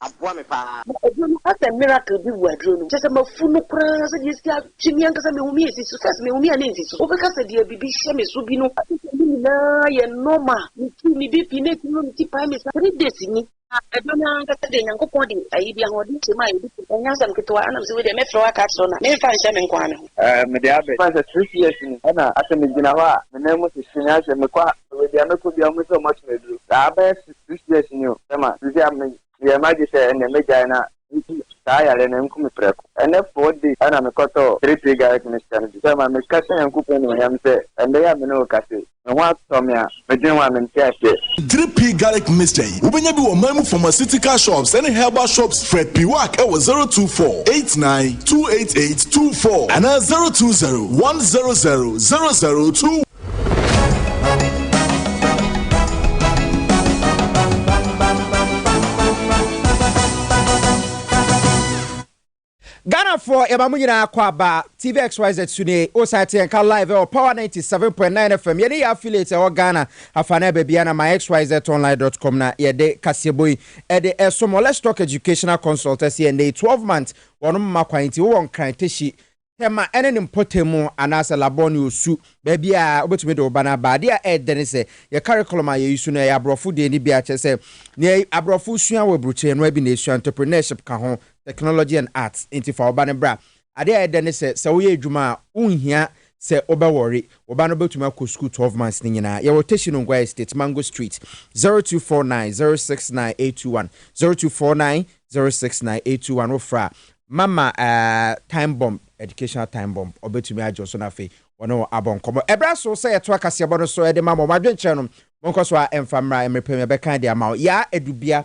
aboa me paa. Na aduro no asɛ miracle bi wɔ aduro no mu kyɛsɛ mafu no koraa sɛdeɛ ɛsi atwe me ankasa mehu me ɛsi so first mehu me a na ɛnsi so wobɛka sɛ deɛ bibi hyɛ me so bi no afei sɛ ne nyinaa yɛ normal metu me BP na ɛtumi ma me ti pae me saa three days ni na ɛba no ankasa deɛ Nyankopɔn de ayi bi ahoɔden hyɛ mu a ɛdi so ɛnyɛ asɛm ketewa ɛna mesɛ wei deɛ mɛfrɛ wo aka akyerɛ wo na memfa nhyɛ me nkoaa me ho. Ɛɛ mede abɛ bɛyɛ sɛ six years ni ɛna asɛ megyina hɔ a me nan mu hyehye me asɛ mekɔ a baabi a mɛkɔ biara wɔn sɛ wɔn ato me aduro saa abɛyɛ useless ni o. Sɛ ma sisi a me yɛ ma dwe sɛ ɛnɛ mɛ gyae na nti saa yare no nku me prɛko. Ɛnɛ four days ɛna me kɔ tɔɔ three three garlic mixture no bi. Sɛ ma me ka hyɛ Nyankopɔn animuonyam sɛ ɛnɛ yi a me ne wo kasa yi me ho atɔ me a me dwene ho a me nte aseɛ. Three pea garlic mixture yi wo bɛnya bi wɔ man mu pharmaceutical shops ɛne herbal shops frɛ Piwak ɛwɔ zero two four eight nine two eight eight two four anaa zero two zero one zero zero zero zero two one. ghanafoɔ yɛma mo nyinaa kɔ aba tv xyz so nie wosan te yɛnka live ɛwɔ power 97.9 fm yɛne yɛ affiliate ɛwɔ ghana afa no ɛbɛbia na my xyzonline.com na yɛde kaseɛbɔ yi ɛde ɛso mo let's talk educational consult ɛsɛ yɛn dɛ 12 months wɔnom ma kwan nti wowɔ nkran tɛhyi Tɛma ne ne mpɔtam mu anaasɛ labɔ ne osu, baabiara a wobɛtumi de wo ba no aba. Adeɛ a ɛyɛ dɛ ne sɛ, yɛn curriculum a yɛyi so no, ɛyɛ aborɔfo deɛ ne bi a kyerɛ sɛ, nea aborɔfo sua wɔ aburukyire no ara bi na ɛsua, entrepreneurship ka ho, technology and arts, enti fa wo ba no bra. Adeɛ a ɛyɛ dɛ ne sɛ, sɛ woyɛ adwuma a, wonhia sɛ wobɛ worry, wo ba no bɛtumi akɔ sukuu twelve months no nyinaa. Yɛwɔ Teshie Nungua Estate, Mango Street, zero two four nine zero six nine eight two one, zero two four nine zero six nine eight two one wofrɛ a mama ɛɛ time bomb educational time bomb ɔbɛtumi agye wo so na afei wɔne wɔn abɔ nkɔmmɔ ɛberɛ aso sɛ yɛtoa kaseɛbɔ no so ɛde ma mo mo adwenkyerɛ no monkɔ so a ɛmfa mmra mmerɛ pɛ mu yɛbɛkan de ama wo yaa adubea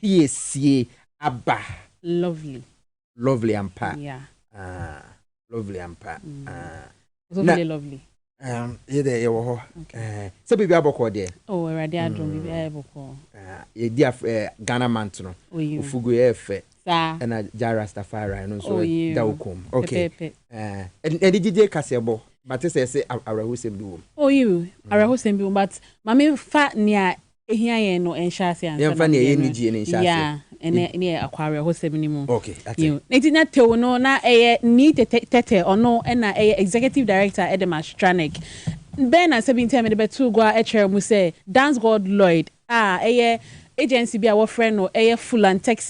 piesie aba. Lovely. Lovely ampa. Yeah. Ah. lovely ampa mm. ah. so na, lovely um, yɛ dɛ yɛwɔ hɔ eh, sɛ biribi abɔkɔɔ deɛ oh, awurade adom mm. biribi ayɛ bɔkɔɔ ah, yɛdi eh, ghana mant no ofugu yɛ fɛ ɛna gya rastafari no nso da wo kɔm okay ɛde gyigye kaseɛ bɔ bate sɛ ɛsɛ awerɛhosɛm bi wom oyiw awerɛhosɛm bi wom but ma memfa nea ehia yɛn no nhyɛase ansa na ne deɛ no yɛ a ɛnɛ ne yɛ akɔ awerɛhosɛm no mu. Yiw. Enti na Tew no na ɛyɛ Nii Tete Tete, ɔno na ɛyɛ Executive Director de ma Stranek. Bɛn na asɛm yi nti a mede bɛtoo gua kyerɛɛ mo sɛ Dansgaard Lloyd a ɛyɛ agency bi a wɔfrɛ no ɛyɛ Fulantech,